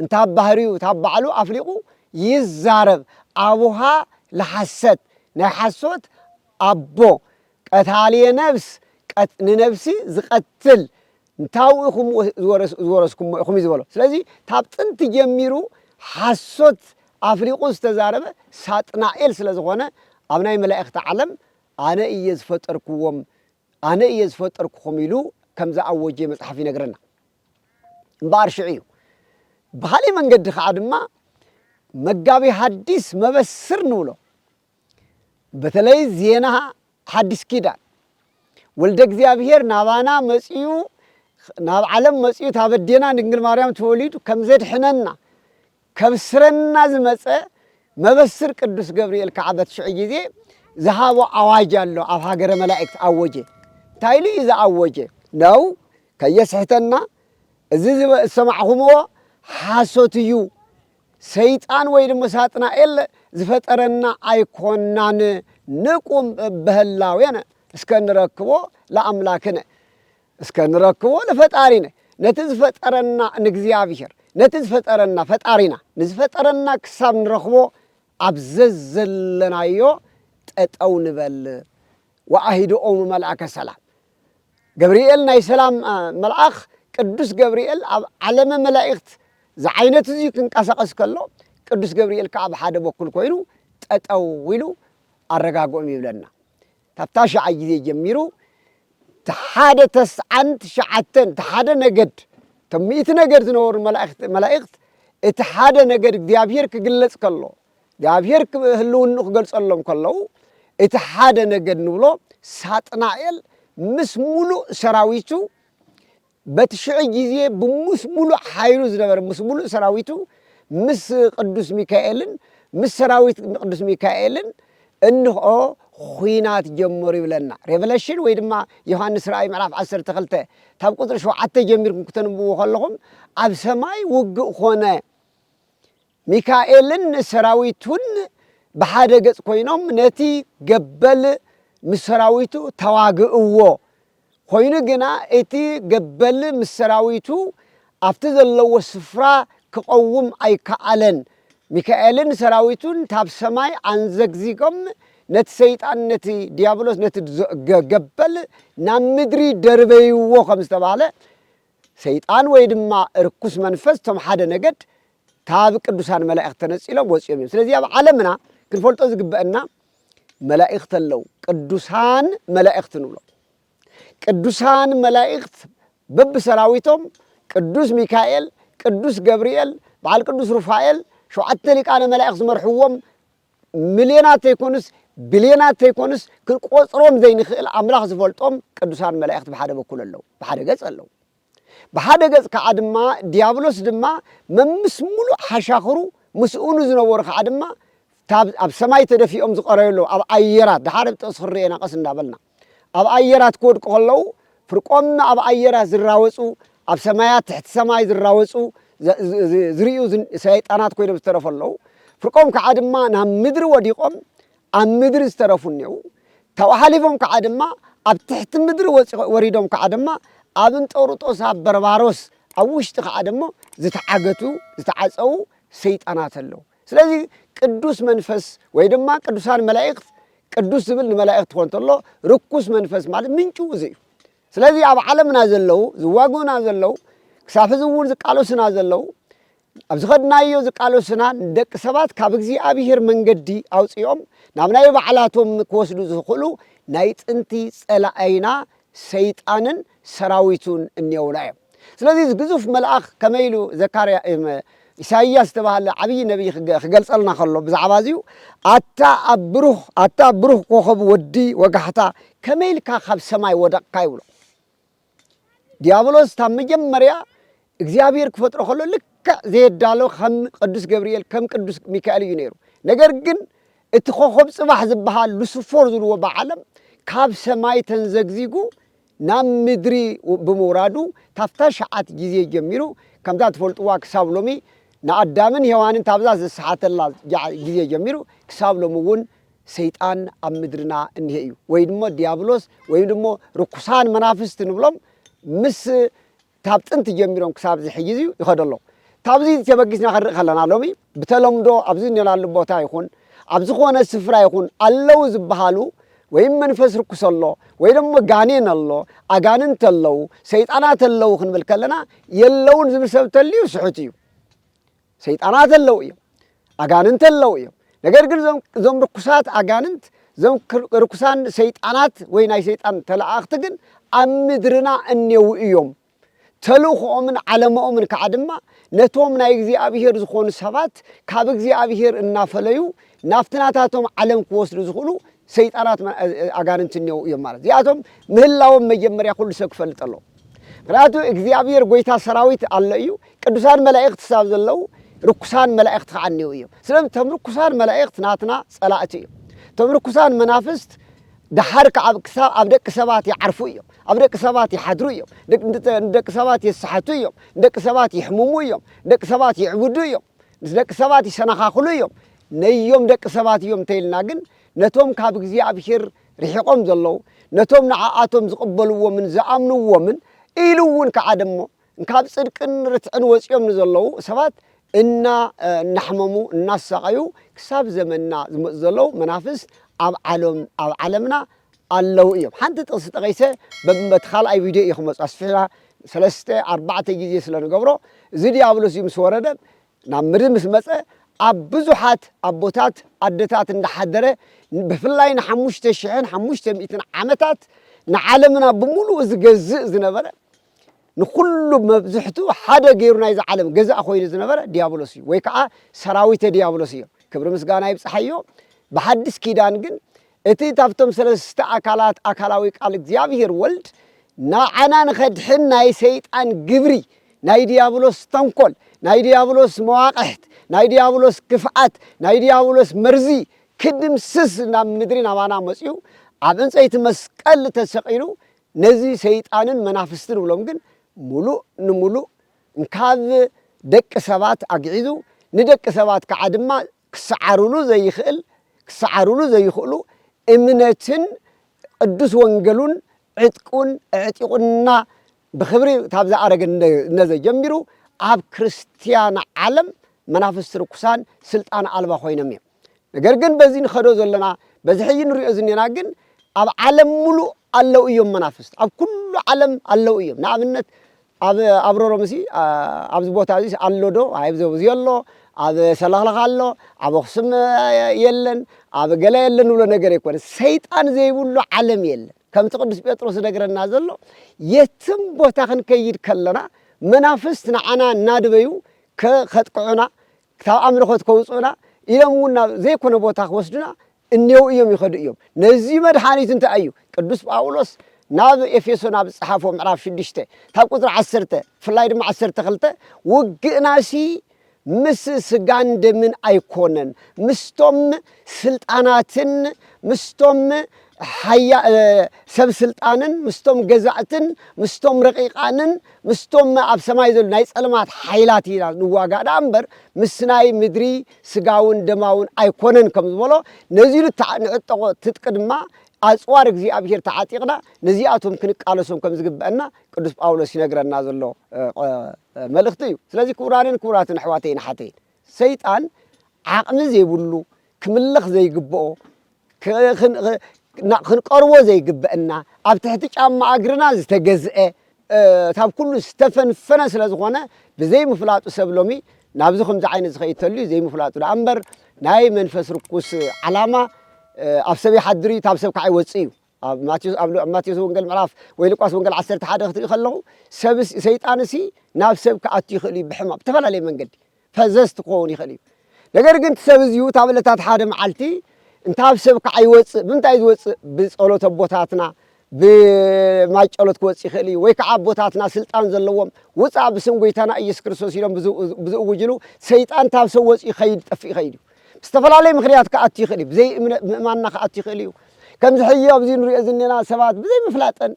እንታ ባህሪኡ እታ ባዕሉ ኣፍሊቁ ይዛረብ ኣቡሃ ለሓሰት ናይ ሓሶት ኣቦ ቀታልየ ነብስ ንነብሲ ዝቀትል እንታው ኢኩም ዝወረስኩሞ ኢኩም እዩ ዝበሎ ስለዚ ካብ ጥንቲ ጀሚሩ ሓሶት ኣፍሊቁ ዝተዛረበ ሳጥናኤል ስለ ዝኮነ ኣብ ናይ መላእክቲ ዓለም ኣነ እየ ዝፈጠርኩዎም ኣነ እየ ዝፈጠርኩኩም ኢሉ ከም ዝኣወጀ መጽሓፍ ይነግረና እምበኣር ሽዑ እዩ። ብኻሊእ መንገዲ ኸዓ ድማ መጋቢ ሀዲስ መበስር ንብሎ በተለይ ዜና ሓዲስ ኪዳን ወልደ እግዚኣብሔር ናባና መፅኡ ናብ ዓለም መፅኡ ታበዴና ድንግል ማርያም ተወሊዱ ከምዘድሕነና ከብ ስረና ዝመጸ መበስር ቅዱስ ገብርኤል ከኣ በት ሽዑ ጊዜ ዝሃቦ ኣዋጅ ኣሎ ኣብ ሃገረ መላእክት ኣወጀ እንታይ ኢሉ እዩ ዝኣወጀ ነው ከየስሕተና እዚ ዝሰማዕኹምዎ ሓሶት እዩ ሰይጣን ወይ ድማ ሳጥናኤል ዝፈጠረና ኣይኮናን ንቁም በህላዌነ እስከ ንረክቦ ለኣምላክነ እስከ ንረክቦ ንፈጣሪነ ነቲ ዝፈጠረና ንእግዚኣብሄር ነቲ ዝፈጠረና ፈጣሪና ንዝፈጠረና ክሳብ ንረኽቦ ኣብ ዘዘለናዮ ጠጠው ንበል ወኣሂድኦሙ መልኣከ ሰላም ገብርኤል ናይ ሰላም መልኣኽ ቅዱስ ገብርኤል ኣብ ዓለመ መላእኽት ዝዓይነት እዙይ ክንቀሳቐስ ከሎ ቅዱስ ገብርኤል ከዓ ኣብ ሓደ በኩል ኮይኑ ጠጠው ኢሉ ኣረጋግኦም ይብለና ካብ ታሽዓይ ግዜ ጀሚሩ እቲ ሓደ ተስዓን ትሽዓተን እቲ ሓደ ነገድ እቶም ሚእቲ ነገድ ዝነበሩ መላእክት መላእክት እቲ ሓደ ነገድ እግዚኣብሔር ክግለጽ ከሎ እግዚኣብሔር ህልውኑ ክገልጸሎም ከለዉ እቲ ሓደ ነገድ ንብሎ ሳጥናኤል ምስ ሙሉእ ሰራዊቱ በቲ ሽዑ ጊዜ ብምስ ምሉእ ኃይሉ ዝነበረ ምስ ምሉእ ሰራዊቱ ምስ ቅዱስ ሚካኤልን ምስ ሰራዊት ቅዱስ ሚካኤልን እንሆ ኹናት ጀመሩ ይብለና Revelation ወይ ድማ ዮሐንስ ራእይ ምዕራፍ ዓሰርተ ክልተ ካብ ቁጽሪ ሸውዓተ ጀሚርኩም ክተንብብዎ ከለኹም ኣብ ሰማይ ውግእ ኮነ ሚካኤልን ሰራዊቱን ብሓደ ገጽ ኮይኖም ነቲ ገበል ምስ ሰራዊቱ ተዋግእዎ። ኾይኑ ግና እቲ ገበል ምስ ሰራዊቱ ኣብቲ ዘለዎ ስፍራ ክቐውም ኣይከኣለን። ሚካኤልን ሰራዊቱን ታብ ሰማይ ኣንዘግዚጎም ነቲ ሰይጣን ነቲ ድያብሎስ ነቲ ገበል ናብ ምድሪ ደርበይዎ ከም ዝተባህለ ሰይጣን ወይ ድማ ርኩስ መንፈስ እቶም ሓደ ነገድ ካብ ቅዱሳን መላእኽት ተነጺሎም ወጺኦም እዮም። ስለዚ ኣብ ዓለምና ክንፈልጦ ዝግበአና መላእኽት ኣለው፣ ቅዱሳን መላእኽት ንብሎም። ቅዱሳን መላእኽት በብሰራዊቶም ቅዱስ ሚካኤል፣ ቅዱስ ገብርኤል፣ በዓል ቅዱስ ሩፋኤል፣ ሸውዓተ ሊቃነ መላእኽት ዝመርሕዎም ሚልዮናት ዘይኮኑስ ቢልዮናት ዘይኮኑስ ክንቆጽሮም ዘይንኽእል ኣምላኽ ዝፈልጦም ቅዱሳን መላእኽት ብሓደ በኩል ኣለዉ፣ ብሓደ ገጽ ኣለዉ። ብሓደ ገጽ ከኣ ድማ ድያብሎስ ድማ መምስ ምሉእ ሓሻኽሩ ምስኡ ንዝነበሩ ከኣ ድማ ታብ ኣብ ሰማይ ተደፊኦም ዝቐረዩ ኣለዉ ኣብ ኣየራት ደሓር ኣብ ጥቕሲ ክንርእዮ ኢና ቀስ እንዳበልና ኣብ ኣየራት ክወድቁ ከለዉ ፍርቆም ኣብ ኣየራት ዝራወጹ ኣብ ሰማያት ትሕቲ ሰማይ ዝራወጹ ዝርእዩ ሰይጣናት ኮይኖም ዝተረፉ ኣለዉ ፍርቆም ከኣ ድማ ናብ ምድሪ ወዲቖም ኣብ ምድሪ ዝተረፉ እኔዉ፣ ካብኡ ሓሊፎም ከዓ ድማ ኣብ ትሕቲ ምድሪ ወሪዶም ከዓ ድማ ኣብ እንጦርጦስ ኣብ በርባሮስ ኣብ ውሽጢ ከዓ ደሞ ዝተዓገቱ ዝተዓፀዉ ሰይጣናት ኣለዉ። ስለዚ ቅዱስ መንፈስ ወይ ድማ ቅዱሳን መላእክት ቅዱስ ዝብል ንመላእክት ክኾን ተሎ ርኩስ መንፈስ ማለት ምንጩ እዚ እዩ። ስለዚ ኣብ ዓለምና ዘለዉ ዝዋግኡና ዘለዉ ክሳብ ሕዚ እውን ዝቃለሱና ዘለዉ ኣብ ዝኸድናዮ ዝቃለሱና ንደቂ ሰባት ካብ እግዚኣብሄር መንገዲ ኣውጺኦም ናብ ናይ ባዕላቶም ክወስዱ ዝኽእሉ ናይ ጥንቲ ጸላኣይና ሰይጣንን ሰራዊቱን እኔውና እዮም። ስለዚ እዚ ግዙፍ መልኣኽ ከመይ ኢሉ ዘካርያ ኢሳይያስ ዝተባህለ ዓብዪ ነቢይ ክገልጸልና ከሎ ብዛዕባ እዚዩ ኣታ ኣብ ብሩኽ ኣታ ብሩኽ ኮኸብ ወዲ ወጋሕታ ከመይ ኢልካ ካብ ሰማይ ወደቕካ ይብሎ። ዲያብሎስ ካብ መጀመርያ እግዚኣብሔር ክፈጥሮ ከሎ ልክዕ ዘየዳሎ ከም ቅዱስ ገብርኤል ከም ቅዱስ ሚካኤል እዩ ነይሩ ነገር ግን እቲ ኮኸብ ጽባሕ ዝበሃል ሉስፎር ዝብልዎ ብዓለም ካብ ሰማይ ተንዘግዚጉ ናብ ምድሪ ብምውራዱ ካብታ ሸዓት ግዜ ጀሚሩ ከምዛ ትፈልጥዋ ክሳብ ሎሚ ንኣዳምን ሔዋንን ካብዛ ዘሰሓተላ ግዜ ጀሚሩ ክሳብ ሎሚ እውን ሰይጣን ኣብ ምድርና እኒሀ እዩ ወይ ድሞ ዲያብሎስ ወይም ድሞ ርኩሳን መናፍስት ንብሎም ምስ ካብ ጥንቲ ጀሚሮም ክሳብ እዚ ሕጂ እዚዩ ይኸዶ ኣሎ ካብዚ ተበጊስና ክንርኢ ከለና ሎሚ ብተለምዶ ኣብዚ እኔናሉ ቦታ ይኹን ኣብ ዝኾነ ስፍራ ይኹን ኣለው ዝበሃሉ ወይም መንፈስ ርኩስ ኣሎ ወይ ደሞ ጋኔን ኣሎ ኣጋንንት ኣለው ሰይጣናት ኣለው ክንብል ከለና የለውን ዝብል ሰብ ተልዩ ስሑት እዩ ሰይጣናት ኣለዉ እዮም፣ ኣጋንንቲ ኣለዉ እዮም። ነገር ግን እዞም እዞም ርኩሳት ኣጋንንት እዞም ክር- ርኩሳን ሰይጣናት ወይ ናይ ሰይጣን ተለኣኽቲ ግን ኣብ ምድርና እኔዉ እዮም። ተልእኾኦምን ዓለማኦምን ከዓ ድማ ነቶም ናይ እግዚኣብሔር ዝኾኑ ሰባት ካብ እግዚኣብሔር እናፈለዩ ናብቲ ናታቶም ዓለም ክወስዱ ዝኽእሉ ሰይጣናት መ- እ- እ- ኣጋንንቲ እኔዉ እዮም ማለት እዚኣቶም ምህላዎም መጀመርያ ኩሉ ሰብ ክፈልጥ ኣለዎ። ምኽንያቱ እግዚኣብሔር ጐይታ ሰራዊት ኣሎ እዩ፣ ቅዱሳን መላእኽት ክሳብ ዘለዉ ርኩሳን መላእኽት ከዓ እኔዉ እዮም። ስለዚ እቶም ርኩሳን መላእኽት ናትና ጸላእቲ እዮም። እቶም ርኩሳን መናፍስት ደሓር ከዓ ክሳብ ኣብ ደቂ ሰባት ይዓርፉ እዮም፣ ኣብ ደቂ ሰባት ይሓድሩ እዮም፣ ንደቂ ሰባት የሳሕቱ እዮም፣ ንደቂ ሰባት የሕምሙ እዮም፣ ንደቂ ሰባት ይዕብዱ እዮም፣ ምስ ደቂ ሰባት ይሰነኻኽሉ እዮም። ነዮም ደቂ ሰባት እዮም እንተይልና ግን ነቶም ካብ እግዚኣብሔር ርሒቖም ዘለዉ፣ ነቶም ንዓኣቶም ዝቕበልዎምን ዝኣምንዎምን፣ ኢሉ እውን ከኣ ደሞ ካብ ጽድቅን ርትዕን ወጺኦም ንዘለዉ ሰባት እና እናሕመሙ እናሳቐዩ ክሳብ ዘመንና ዝመጹ ዘለዉ መናፍስት ኣብ ዓሎም ኣብ ዓለምና ኣለዉ እዮም። ሓንቲ ጥቕሲ ጠቒሰ በብ በቲ ካልኣይ ቪድዮ እየ ክመጾ ኣስፊሕና ሰለስተ ኣርባዕተ ግዜ ስለ ንገብሮ እዚ ድያብሎስ እዚ ምስ ወረደ ናብ ምሪ ምስ መጸ ኣብ ብዙሓት ኣቦታት ኣደታት እንዳሓደረ ብፍላይ ንሓሙሽተ ሽሕን ሓሙሽተ ሚእትን ዓመታት ንዓለምና ብምሉኡ ዝገዝእ ዝነበረ ንኩሉ መብዝሕቱ ሓደ ገይሩ ናይዚ ዓለም ገዛእ ኮይኑ ዝነበረ ዲያብሎስ እዩ ወይ ከዓ ሰራዊተ ዲያብሎስ እዮም ክብሪ ምስጋና ይብጽሓዮ ብሓድስ ኪዳን ግን እቲ ታብቶም ሰለስተ ኣካላት ኣካላዊ ቃል እግዚኣብሄር ወልድ ንዓና ንኸድሕን ናይ ሰይጣን ግብሪ ናይ ድያብሎስ ተንኮል ናይ ድያብሎስ መዋቕሕት ናይ ድያብሎስ ክፍኣት ናይ ድያብሎስ መርዚ ክድምስስ ናብ ምድሪ ናባና መጽዩ ኣብ ዕንጸይቲ መስቀል ተሰቒሉ ነዚ ሰይጣንን መናፍስቲ ንብሎም ግን ምሉእ ንምሉእ ካብ ደቂ ሰባት ኣግዒዙ ንደቂ ሰባት ከኣ ድማ ክሰዓሩሉ ዘይክእል ክሰዓሩሉ ዘይክእሉ እምነትን ቕዱስ ወንገሉን ዕጥቁን ኣዕጢቑና ብኽብሪ ታብ ዝኣረገ ነዘ ጀሚሩ ኣብ ክርስትያን ዓለም መናፍስቲ ርኩሳን ስልጣን ኣልባ ኮይኖም እዮም ነገር ግን በዚ ንኸዶ ዘለና በዚ ሕጂ ንሪኦ ዝኔና ግን ኣብ ዓለም ሙሉእ ኣለው እዮም መናፍስት ኣብ ኩሉ ዓለም ኣለው እዮም ንኣብነት ኣብ ኣብረሮምሲ ኣብዚ ቦታዚስ ኣሎዶ ኣይብዘቡ ዝየሎ ኣብ ሰለኽለኽ ኣሎ ኣብ ኣኽሱም የለን ኣብ ገለ የለን ንብሎ ነገር ኣይኮነ ሰይጣን ዘይብሉ ዓለም የለን ከምቲ ቅዱስ ጴጥሮስ ዝነግረና ዘሎ የትም ቦታ ክንከይድ ከለና መናፍስት ንዓና እናድበዩ ከጥቅዑና ካብ ኣምልኾት ከውፅኡና ኢሎም እውን ናብ ዘይኮነ ቦታ ክወስዱና እኔዉ እዮም ይኸዱ እዮም። ነዚ መድሓኒት እንታይ እዩ? ቅዱስ ጳዉሎስ ናብ ኤፌሶን ኣብ ዝጸሓፎ ምዕራፍ ሽዱሽተ ካብ ቁጽሪ ዓሰርተ ብፍላይ ድማ ዓሰርተ ክልተ ዉግእናሲ ምስ ስጋን ደምን ኣይኮነን ምስቶም ስልጣናትን ምስቶም ሓያ ሰብ ስልጣንን ምስቶም ገዛእትን ምስቶም ረቂቃንን ምስቶም ኣብ ሰማይ ዘሉ ናይ ጸልማት ሓይላት ኢና ንዋጋእ ደኣ እምበር ምስ ናይ ምድሪ ስጋውን ደማውን ኣይኮነን ከም ዝበሎ ነዚ ኢሉ ንዕጠቖ ትጥቂ ድማ ኣጽዋር እግዚኣብሔር ተዓጢቕና ነዚኣቶም ክንቃለሶም ከም ዝግበአና ቅዱስ ጳውሎስ ይነግረና ዘሎ መልእኽቲ እዩ። ስለዚ ክቡራንን ክቡራትን ኣሕዋተይን ኣሓተይን ሰይጣን ዓቕሚ ዘይብሉ ክምለኽ ዘይግብኦ ክንቀርቦ ዘይግበእና ኣብ ትሕቲ ጫማ እግርና ዝተገዝኤ ታብ ኩሉ ዝተፈንፈነ ስለ ዝኾነ ብዘይ ምፍላጡ ሰብ ሎሚ ናብዚ ከምዚ ዓይነት ዝኸይድ ተልዩ ዘይምፍላጡ ደኣ እምበር ናይ መንፈስ ርኩስ ዓላማ ኣብ ሰብ ይሓድር እዩ ታብ ሰብ ካዓ ይወጽእ እዩ። ኣብ ማቴዎስ ኣብ ማቴዎስ ወንጌል ምዕራፍ ወይ ሉቃስ ወንጌል ዓሰርተ ሓደ ክትሪኡ ከለኹ ሰብ ሰይጣን እሲ ናብ ሰብ ክኣቱ ይኽእል እዩ ብሕማም ብተፈላለየ መንገዲ ፈዘዝቲ ክኸውን ይኽእል እዩ ነገር ግን እቲ ሰብ እዚኡ እታ ዕለታት ሓደ መዓልቲ እንታ ኣብ ሰብ ከዓ ይወፅእ ብምንታይ እዩ ዝወፅእ ብፀሎት ኣቦታትና ብማይጨሎት ክወፅእ ይኽእል እዩ ወይ ከዓ ኣቦታትና ስልጣን ዘለዎም ውፃእ ብስም ጎይታና ኢየሱስ ክርስቶስ ኢሎም ብዝእውጅሉ ሰይጣን ታብ ሰብ ወፂኡ ይኸይድ ጠፍእ ይኸይድ እዩ ብዝተፈላለየ ምኽንያት ክኣቱ ይኽእል እዩ ብዘይ ምእማንና ክኣቱ ይኽእል እዩ ከምዚ ሕጂ ኣብዚ ንሪኦ ዝኔና ሰባት ብዘይ ምፍላጠን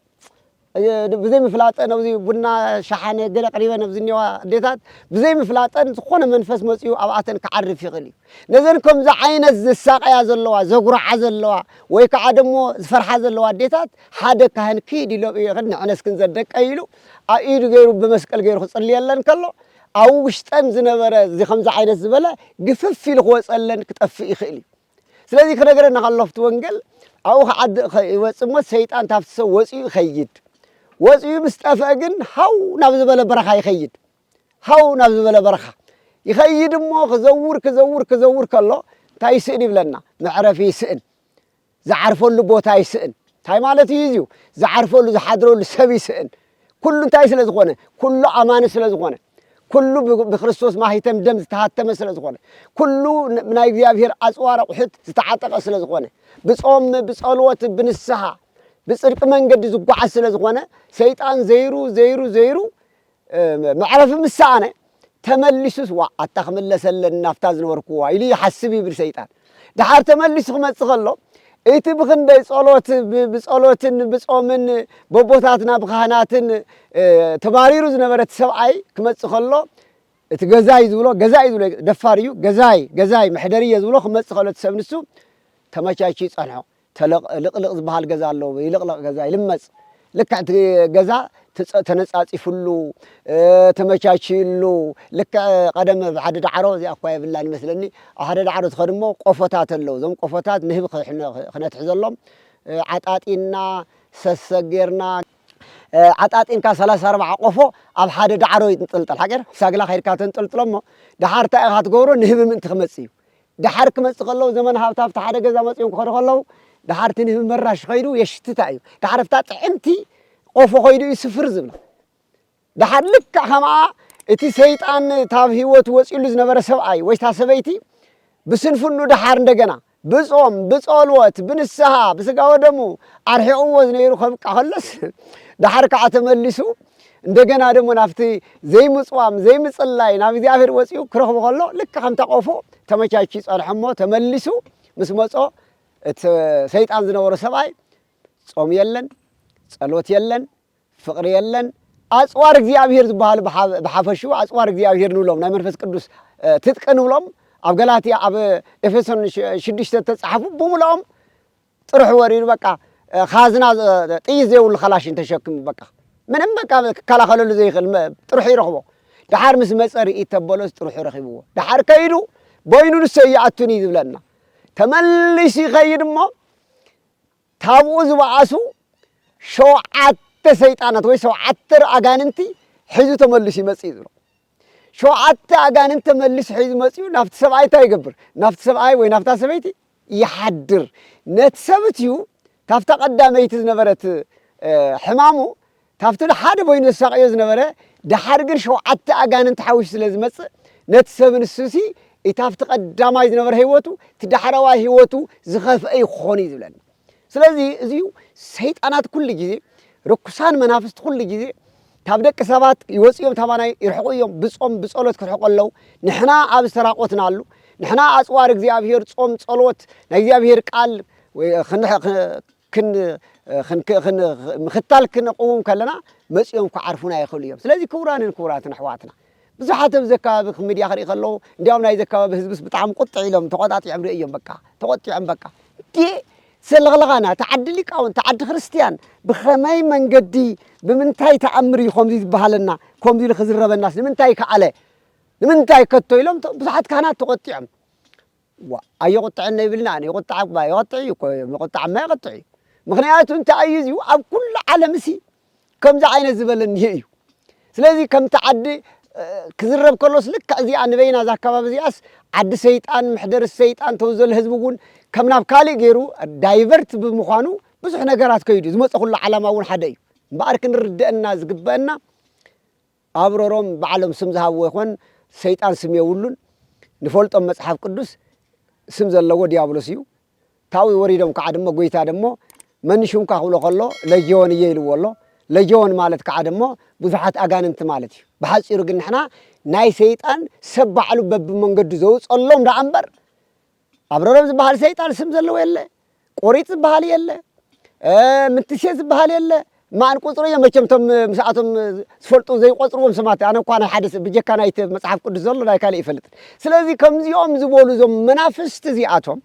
ብዘይ ምፍላጠን ኣብዚ ቡና ሸሓነ ገለ ቅሪበን ኣብ ዝኔዋ ኣዴታት ብዘይ ምፍላጠን ዝኾነ መንፈስ መፅኡ ኣብኣተን ክዓርፍ ይኽእል እዩ ነዘን ከምዚ ዓይነት ዝሳቀያ ዘለዋ ዘጉርዓ ዘለዋ ወይ ከዓ ደሞ ዝፈርሓ ዘለዋ ኣዴታት ሓደ ካህን ክይድ ኢሎም ንዕነስክን ዘደቀ ኢሉ ኣብ ኢዱ ገይሩ ብመስቀል ገይሩ ክፅልየለን ከሎ ኣብ ውሽጠን ዝነበረ እዚ ከምዚ ዓይነት ዝበለ ግፍፍ ኢሉ ክወጸለን ክጠፍእ ይኽእል እዩ። ስለዚ ክነግረና ከሎ ኣብቲ ወንገል ኣብኡ ክዓዲ ይወጽእ እሞ ሰይጣን ታብቲ ሰብ ወጽኡ ይኸይድ። ወጽኡ ምስ ጠፍአ ግን ሃው ናብ ዝበለ በረኻ ይኸይድ። ሃው ናብ ዝበለ በረኻ ይኸይድ እሞ ክዘውር ክዘውር ክዘውር ከሎ እንታይ ይስእን ይብለና መዕረፊ ይስእን። ዝዓርፈሉ ቦታ ይስእን። እንታይ ማለት እዩ እዚዩ ዝዓርፈሉ ዝሓድረሉ ሰብ ይስእን ኩሉ እንታይ ስለ ዝኾነ ኩሉ ኣማኒ ስለ ዝኾነ ኩሉ ብክርስቶስ ማሂተም ደም ዝተሃተመ ስለ ዝኾነ ኩሉ ናይ እግዚኣብሔር ኣጽዋር ኣቑሑት ዝተዓጠቐ ስለ ዝኾነ ብጾም ብጸሎት ብንስሓ ብጽድቂ መንገዲ ዝጓዓዝ ስለ ዝኾነ ሰይጣን ዘይሩ ዘይሩ ዘይሩ መዕረፊ ምስ ሰኣነ፣ ተመሊሱስ ዋእ ኣታ ክምለስ ኣለኒ ናብታ ዝነበርኩዋ ኢሉ ይሓስብ ይብል ሰይጣን። ደሓር ተመሊሱ ክመጽእ ከሎ፣ እቲ ብኽንደይ ጸሎት፣ ብጸሎትን ብጾምን በቦታትና ብካህናትን ተባሪሩ ዝነበረ እቲ ሰብኣይ ክመጽእ ከሎ፣ እቲ ገዛይ ዝብሎ ገዛይ ዝብሎ ደፋር እዩ ገዛይ ገዛይ መሕደሪየ ዝብሎ ክመጽእ ከሎ እቲ ሰብ ንሱ ተመቻችዩ ይጸንሖ። ተለቕ ልቕልቕ ዝበሃል ገዛ ኣሎ ይልቕለቕ ገዛ ይልመጽ ልክዕ እቲ ገዛ ትጸ ተነጻጺፍሉ ተመቻችይሉ ልክዕ ቐደም ኣብ ሓደ ዳዕሮ እዚኣ እኳ የብላን ይመስለኒ ኣብ ሓደ ዳዕሮ ትኸድ እሞ ቆፎታት ኣለዉ እዞም ቆፎታት ንህቢ ክሕነ ክነትሕዘሎም ዓጣጢና ሰሰግ ጌርና ዓጣጢንካ ሰላሳ ኣርብዓ ቆፎ ኣብ ሓደ ዳዕሮ ይንጥልጠል ሓቂር ሳግላ ከይድካ ተንጠልጥሎ እሞ ደሓር እንታይ ኢኻ ትገብሮ ንህቢ ምእንቲ ክመጽእ እዩ ደሓር ክመጽእ ከሎ ዘመን ሃብቲ ኣብቲ ሓደ ገዛ መጺኦም ክኸዱ ከለዉ ደሓር እቲ ንህቢ መራሽ ከይዱ የሽትታ እዩ ደሓር ኣብታ ጥዕምቲ ቆፎ ከይዱ እዩ ስፍር ዝብላ ደሓር ልክዕ ከምኣ እቲ ሰይጣን ታብ ህይወቱ ወጺሉ ዝነበረ ሰብኣይ ወይ እታ ሰበይቲ ብስንፍኑ ደሓር እንደገና ብጾም ብጸልወት ብንስሃ ብስጋ ወደሙ ኣርሒቕዎ ዝነይሩ ከብቅዕ ከለስ ደሓር ከዓ ተመሊሱ እንደገና ደሞ ናብቲ ዘይምፅዋም ዘይምፅላይ ናብ እግዚኣብሔር ወፂኡ ክረኽቡ ከሎ ልክ ከምታ ቆፎ ተመቻቹ ይፀንሐ እሞ ተመሊሱ ምስ መፆ እቲ ሰይጣን ዝነበሮ ሰብኣይ ጾም የለን ጸሎት የለን ፍቕሪ የለን ኣፅዋር እግዚኣብሔር ዝበሃሉ ብሓፈሹ ኣፅዋር እግዚኣብሔር ንብሎም ናይ መንፈስ ቅዱስ ትጥቂ ንብሎም ኣብ ገላትያ ኣብ ኤፌሶን ሽዱሽተ ተፃሓፉ ብምልኦም ጥርሑ ወሪዱ በቃ ካዝና ጥይት ዘይብሉ ካላሽን ተሸኪሙ በቃ ምንም በቃ ክከላኸለሉ ዘይኽእል ጥርሑ ይረኽቦ ደሓር ምስ መፀ ርኢት ተበሎስ ጥርሑ ረኺብዎ ደሓር ከይዱ በይኑ ንሰ ይኣቱኒ ዝብለና ተመሊሱ ይኸይድ እሞ ታብኡ ዝበኣሱ ሸውዓተ ሰይጣናት ወይ ሸውዓተ ኣጋንንቲ ሒዙ ተመሊሱ ይመፅእ እዩ ዝብሎ ሸውዓተ ኣጋንንት ተመሊሱ ሒዙ መጺኡ ናብቲ ሰብኣይ እንታይ ይገብር? ናብቲ ሰብኣይ ወይ ናብታ ሰበይቲ ይሓድር። ነቲ ሰብት እዩ ታፍታ ቀዳመይቲ ዝነበረት ሕማሙ ታፍቲ ንሓደ በይኑ ዘሳቅዮ ዝነበረ ድሓር ግን ሸውዓተ ኣጋንንት ሓዊሱ ስለ ዝመጽእ ነቲ ሰብ ንሱሲ እቲ ኣብቲ ቀዳማይ ዝነበረ ህይወቱ እቲ ዳሕረዋይ ህይወቱ ዝኸፍአ ይኾኑ እዩ ዝብለና ስለዚ እዚዩ ሰይጣናት ኩሉ ግዜ ርኩሳን መናፍስቲ ኩሉ ግዜ ካብ ደቂ ሰባት ይወፁ እዮም ታባናይ ይርሕቁ እዮም ብፆም ብፀሎት ክርሕቁ ኣለዉ ንሕና ኣብ ዝተራቆትናሉ ንሕና ኣፅዋር እግዚኣብሄር ፆም ፀሎት ናይ እግዚኣብሄር ቃል ምኽታል ክንቕውም ከለና መፂኦም ክዓርፉና ይኽእሉ እዮም ስለዚ ክቡራንን ክቡራትን ኣሕዋትና ብዙሓት ኣብዚ ኣከባቢ ክም ሚድያ ክሪኢ ከለዉ እንድያውም ናይዚ ኣከባቢ ህዝብስ ብጣዕሚ ቁጥዕ ኢሎም ተቆጣጢዖም ሪኤዮም በቃ ተቆጢዖም በቃ እንዴ ሰለኽለኻና እቲ ዓዲ ሊቃውንቲ እቲ ዓዲ ክርስትያን ብኸመይ መንገዲ ብምንታይ ተኣምር እዩ ከምዚ ዝበሃለና ከምዚ ኢሉ ክዝረበናስ ንምንታይ ከኣለ ንምንታይ ከቶ ኢሎም ብዙሓት ካህናት ተቆጢዖም ዋእ ኣይቁጥዕን ነይብልና ኣነ ይቁጣዕ እባ የቐጥዕ እዩ እኮ ምቁጣዕማ የቐጥዕ እዩ ምክንያቱ እንታይ እዩ እዚዩ ኣብ ኩሉ ዓለም እሲ ከምዚ ዓይነት ዝበለ እኒሄ እዩ ስለዚ ከምቲ ዓዲ ክዝረብ ከሎስ ልክዕ እዚኣ ንበይና እዛ ኣካባቢ እዚኣስ ዓዲ ሰይጣን መሕደሪ ሰይጣን ተውዘል ህዝቢ እውን ከም ናብ ካልእ ገይሩ ዳይቨርት ብምዃኑ ብዙሕ ነገራት ከይዱ ዝመፀኹሉ ዓላማ እውን ሓደ እዩ እምበኣር ክንርደአና ዝግበአና ኣብ ሮሮም ባዕሎም ስም ዝሃብዎ ይኾን ሰይጣን ስም የውሉን ንፈልጦም መጽሓፍ ቅዱስ ስም ዘለዎ ድያብሎስ እዩ ታዊ ወሪዶም ካዓ ደሞ ጎይታ ደሞ መን ሹምካ ክብሎ ከሎ ለጅዮን እየ ኢልዎ ኣሎ ለጅዮን ማለት ካዓ ደሞ ብዙሓት ኣጋንንቲ ማለት እዩ ብሓጺሩ ግን ንሕና ናይ ሰይጣን ሰብ ባዕሉ በብመንገዱ ዘውጸሎም ዳኣ እምበር ኣብረሮም ዝበሃል ሰይጣን ስም ዘለዎ የለ፣ ቆሪጥ ዝበሃል የለ፣ ምትሴ ዝበሃል የለ፣ ማን ቁጽሪ እዮም መቸም እቶም ምስኣቶም ዝፈልጡ ዘይቆጽርዎም ስማት ኣነ እኳ ናይ ሓደ ብጀካ ናይቲ መጽሓፍ ቅዱስ ዘሎ ናይ ካልእ ይፈልጥን ስለዚ ከምዚኦም ዝበሉ እዞም መናፍስቲ እዚኣቶም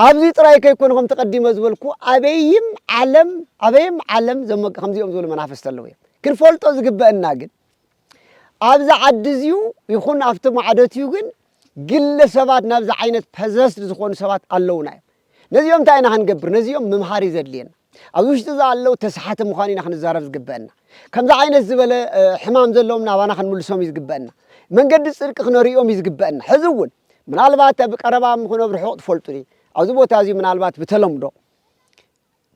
ኣብዚ ጥራይ ከይኮነ ከም ተቀዲመ ዝበልኩ ኣበይም ዓለም ኣበይም ዓለም ከምዚኦም ዝበሉ መናፍስቲ ኣለዉ እዮም ክንፈልጦ ዝግበአና ግን ኣብዚ ዓዲ እዚዩ ይኹን ኣብቲ ማዕዶትዩ ግን ግለ ሰባት ናብዚ ዓይነት ፐዘስድ ዝኾኑ ሰባት ኣለውና እዮም ነዚኦም እንታይ ኢና ክንገብር ነዚኦም ምምሃር እዩ ዘድልየና ኣብዚ ውሽጢ እዚ ኣለው ተስሓቲ ምዃኑ ኢና ክንዛረብ ዝግበአና ከምዚ ዓይነት ዝበለ ሕማም ዘለዎም ናባና ክንምልሶም እዩ ዝግበአና መንገዲ ፅድቂ ክነርእዮም እዩ ዝግበአና ሕዚ እውን ምናልባት ኣብ ቀረባ ምኹነ ኣብ ርሑቕ ትፈልጡኒ ኣብዚ ቦታ እዚ ምናልባት ብተለምዶ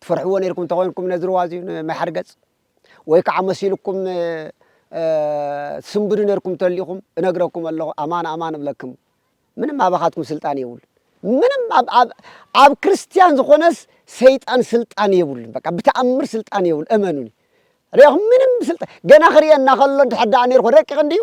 ትፈርሕዎ ነርኩም ተኮይንኩም ነዚ ርዋ እዚ መሓርገፅ ወይ ከዓ መሲልኩም ትስንብዱ ነርኩም ተሊኹም እነግረኩም ኣለኹ ኣማን ኣማን እብለክም ምንም ኣባኻትኩም ስልጣን የብሉን ምንም ኣብ ክርስትያን ዝኾነስ ሰይጣን ስልጣን የብሉን በቃ ብተኣምር ስልጣን የብሉ እመኑኒ ሪኹም ምንም ስልጣን ገና ክርእየና ከሎ ድሕር ደኣ ነርኩ ረቂቕ እንድዩ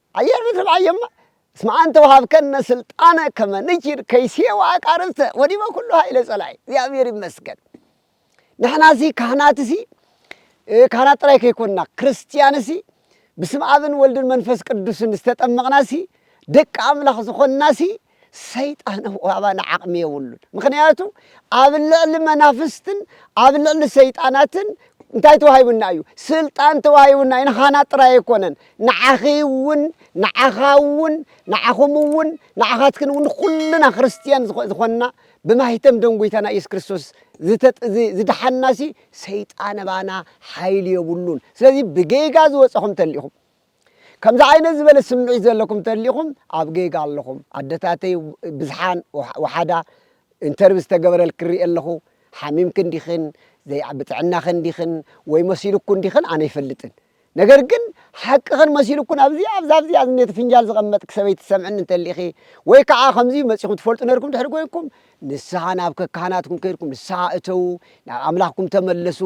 ኣየር ብትብዓየማ እስመ ኣንተ ወሀብከነ ስልጣነ ከመ ንኪድ ከይሴ ወዐቃርብተ ወዲበ ኩሉ ኃይለ ጸላኢ እግዚኣብሔር ይመስገን ንሕናሲ ካህናትሲ ካህናት ጥራይ ከይኮንና ክርስትያንሲ ብስም ኣብን ወልድን መንፈስ ቅዱስን ዝተጠመቕናሲ ደቂ ኣምላኽ ዝኾንናሲ ሰይጣን እኮ ኣባና ዓቕሚ የብሉን። ምኽንያቱ ኣብ ልዕሊ መናፍስትን ኣብ ልዕሊ ሰይጣናትን እንታይ ተዋሂቡና እዩ? ስልጣን ተዋሂቡና እዩ። ንኻና ጥራይ ኣይኮነን፣ ንዓኺ እውን ንዓኻ እውን ንዓኹም እውን ንዓኻትክን እውን ኩልና ክርስትያን ዝኾንና ብማይተም ደም ጎይታና ኢየሱስ ክርስቶስ ዝደሓንናሲ ሰይጣን ኣባና ሓይሊ የብሉን። ስለዚ ብጌጋ ዝወፀኹም ተሊኹም ከምዚ ዓይነት ዝበለ ስምዒት ዘለኩም ተሊኹም ኣብ ጌጋ ኣለኹም ኣደታተይ ብዝሓን ወሓዳ ኢንተርቪ ዝተገበረልክን ሪኤ ኣለኹ ሓሚምክን ዲኽን ዘይዓቢ ጥዕናኽን ዲኽን ወይ መሲሉኩን ዲኽን ኣነ ኣይፈልጥን ነገር ግን ሓቅኽን መሲሉኩን ኣብዚኣ ኣብዛ ኣብዚኣ ዝኔት ፍንጃል ዝቐመጥክ ሰበይቲ ትሰምዕኒ እንተሊኢኺ ወይ ከዓ ከምዚ መጺኹም ትፈልጡ ነርኩም ድሕሪ ኮይንኩም ንስሓ ናብ ከካህናትኩም ከድኩም ንስሓ እተዉ ናብ ኣምላኽኩም ተመለሱ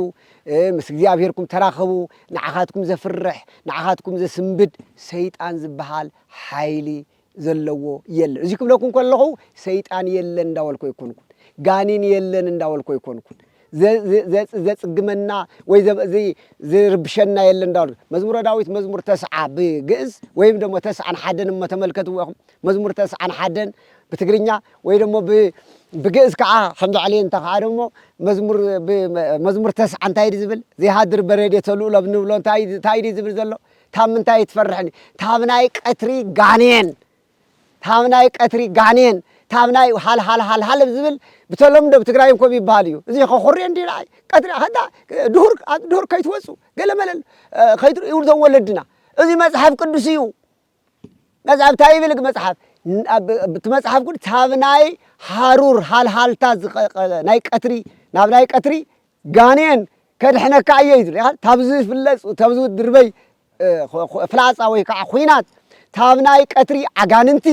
ምስ እግዚኣብሄርኩም ተራኸቡ ንዓኻትኩም ዘፍርሕ ንዓኻትኩም ዘስንብድ ሰይጣን ዝበሃል ሓይሊ ዘለዎ የለ እዙይ ክብለኩም ከለኹ ሰይጣን የለን እንዳበልኩ ኣይኮንኩን ጋኒን የለን እንዳበልኩ ኣይኮንኩን ዘጽግመና ወይ ዝርብሸና የለ እንዳ መዝሙረ ዳዊት መዝሙር ተስዓ ብግእዝ ወይም ደሞ ተስዓን ሓደን እሞ ተመልከትዎ ኢኹም መዝሙር ተስዓን ሓደን ብትግርኛ ወይ ደሞ ብግእዝ ከዓ ከምዚ ዕልየ እንተ ከዓ ደሞ መዝሙር ተስዓ እንታይ ድ ዝብል ዘይሃድር በረዴተ ልኡሎ ንብሎ እንታይ ድ ዝብል ዘሎ ካብ ምንታይ ትፈርሕኒ ካብ ናይ ቀትሪ ጋኔን ታብ ናይ ቀትሪ ጋኔን ታብ ናይ ሃልሃል ሃልሃል ብ ዝብል ብተለምዶ ብ ትግራይ እንኮ ይብሃል እዩ እዚ ከኹርዮ እንድዩ ንዓይ ቀትሪ ኣኸዳ ድሁር ኣብ ድሁር ከይትወጹ ገለ መለ ከይትርእዩ ይብሉ እዞም ወለድና እዚ መጽሓፍ ቅዱስ እዩ መጽሓፍ እንታይ ይብል ግ መጽሓፍ ን- ኣብ- ብ- እቲ መጽሓፍ ቅዱስ ታብ ናይ ሃሩር ሃልሃልታ ዝኸ- ቀ- ናይ ቀትሪ ናብ ናይ ቀትሪ ጋኔን ከድሕነካ እየ እዩ ዝብል ኢኻ ታብ ዝፍለጹ ታብ ዝድርበይ ፍላጻ ወይ ከዓ ኹናት ታብ ናይ ቀትሪ ኣጋንንቲ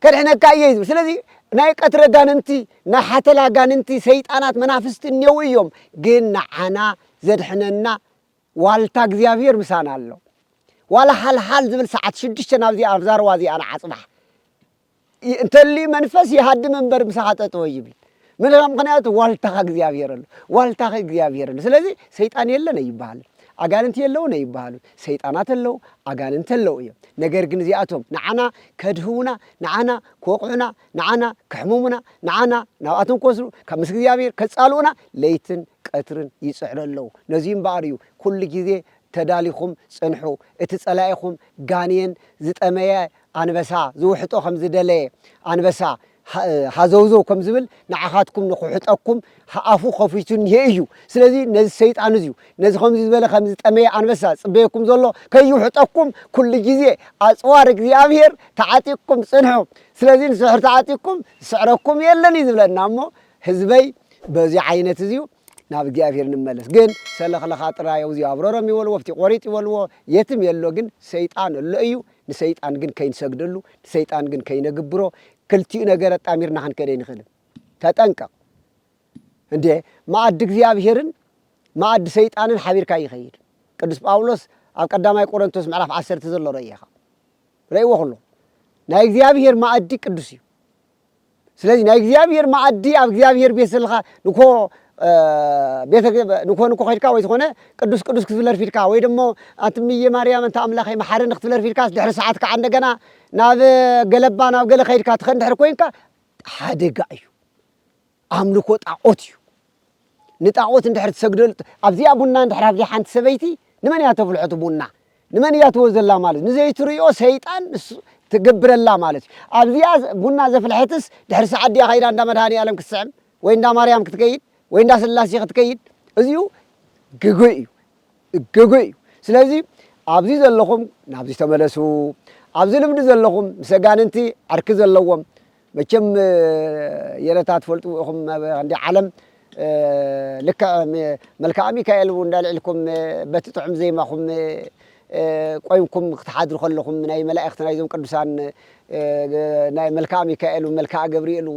ከድሕነካ እየ እዩ ዝብል ስለዚ ናይ ቀትሪ ኣጋንንቲ ናይ ሓተላ ኣጋንንቲ ሰይጣናት መናፍስቲ እኔው እዮም ግን ንዓና ዘድሕነና ዋልታ እግዚኣብሔር ምሳና ኣሎ ዋላ ሓልሓል ዝብል ሰዓት ሽዱሽተ ናብዚ ኣብዛ ርዋ እዚኣ ንዓፅባሕ እንተሊ መንፈስ ይሃድም እምበር ምሳኻ ጠጠወ ይብል ምልኻ ምክንያቱ ዋልታኻ እግዚኣብሔር ኣሎ ዋልታኺ እግዚኣብሔር ኣሎ ስለዚ ሰይጣን የለን ኣይበሃልን ኣጋንንቲ የለውን ኣይበሃሉ ሰይጣናት ኣለው ኣጋንንቲ ኣለው እዮም ነገር ግን እዚኣቶም ንዓና ከድህውና ንዓና ክወቕዑና ንዓና ክሕምሙና ንዓና ናብኣቶም ክወስዱ ካብ ምስ እግዚኣብሔር ከፃልኡና ለይትን ቀትርን ይፅዕሩ ኣለው ነዚ እምበኣር እዩ ኩሉ ግዜ ተዳሊኹም ፅንሑ እቲ ፀላኢኹም ጋንየን ዝጠመየ ኣንበሳ ዝውሕጦ ከም ዝደለየ ኣንበሳ ሃዘውዘው ከም ዝብል ንዓኻትኩም ንኽውሕጠኩም ኣፉ ከፊቱ እኒሀ እዩ። ስለዚ ነዚ ሰይጣን እዚዩ ነዚ ከምዚ ዝበለ ከም ዝጠመየ ኣንበሳ ዝጽበየኩም ዘሎ ከይውሕጠኩም ኩሉ ግዜ ኣጽዋር እግዚኣብሄር ተዓጢቕኩም ጽንሑ። ስለዚ ንስሕር ተዓጢቕኩም ዝስዕረኩም የለን እዩ ዝብለና እሞ ህዝበይ በዚ ዓይነት እዚዩ ናብ እግዚኣብሔር ንመለስ ግን ሰለኽለኻ ጥራይ ኣውዚዩ ኣብረሮም ይበልዎ ኣብቲ ቆሪጥ ይበልዎ የትም የሎ ግን ሰይጣን ኣሎ እዩ ንሰይጣን ግን ከይንሰግደሉ ንሰይጣን ግን ከይነግብሮ ክልቲኡ ነገር ኣጣሚርና ክንከድ ኣይንኽእልን ተጠንቀቕ እንዴ መኣዲ እግዚኣብሔርን መኣዲ ሰይጣንን ሓቢርካ ይኸይድ ቅዱስ ጳውሎስ ኣብ ቀዳማይ ቆረንቶስ ምዕራፍ ዓሰርተ ዘሎ ረእየኻ ረእዎ ኩሎ ናይ እግዚኣብሔር መኣዲ ቅዱስ እዩ ስለዚ ናይ እግዚኣብሔር መኣዲ ኣብ እግዚኣብሔር ቤት ዘለካ ንኮ ቤተ ንኮ ንኮ ከድካ ወይ ዝኾነ ቅዱስ ቅዱስ ክትብለር ፊድካ ወይ ደሞ ኣትምየ ማርያም እንተ ኣምላኸይ መሓረኒ ክትብለር ፊድካስ ድሕሪ ሰዓት ከዓ እንደገና ናብ ገለባ ናብ ገለ ከድካ ትኸን ድሕሪ ኮይንካ ሓደጋ እዩ። ኣምልኮ ጣዖት እዩ ንጣዖት እንድሕር ትሰግደሉ ኣብዚኣ ቡና እንድሕር ኣብዚኣ ሓንቲ ሰበይቲ ንመን እያ ተፍልሖ እቲ ቡና ንመን እያ ትህቦ ዘላ ማለት ንዘይትርእዮ ሰይጣን ትገብረላ ማለት እዩ ኣብዚኣ ቡና ዘፍልሐትስ ድሕሪ ሰዓት ድያ ከይዳ እንዳ መድሃኒኣለም ክትስዕም ወይ እንዳ ማርያም ክትከይድ ወይ እንዳ ስላሴ ክትከይድ እዚኡ ግጉይ እዩ ግጉይ እዩ ስለዚ ኣብዚ ዘለኹም ናብዚ ተመለሱ ኣብዚ ልምዲ ዘለኹም ምስ ኣጋንንቲ ዕርኪ ዘለዎም መቸም የለታ ትፈልጥዎ ኢኹም ኣብ እንዲ ዓለም ልክዕ መልክኣ ሚካኤል እውን እንዳልዒልኩም በቲ ጥዑም ዜማኹም ቆይምኩም ክትሓድሩ ከለኹም ናይ መላእኽቲ ናይዞም ቅዱሳን ናይ መልክኣ ሚካኤል መልክኣ ገብርኤል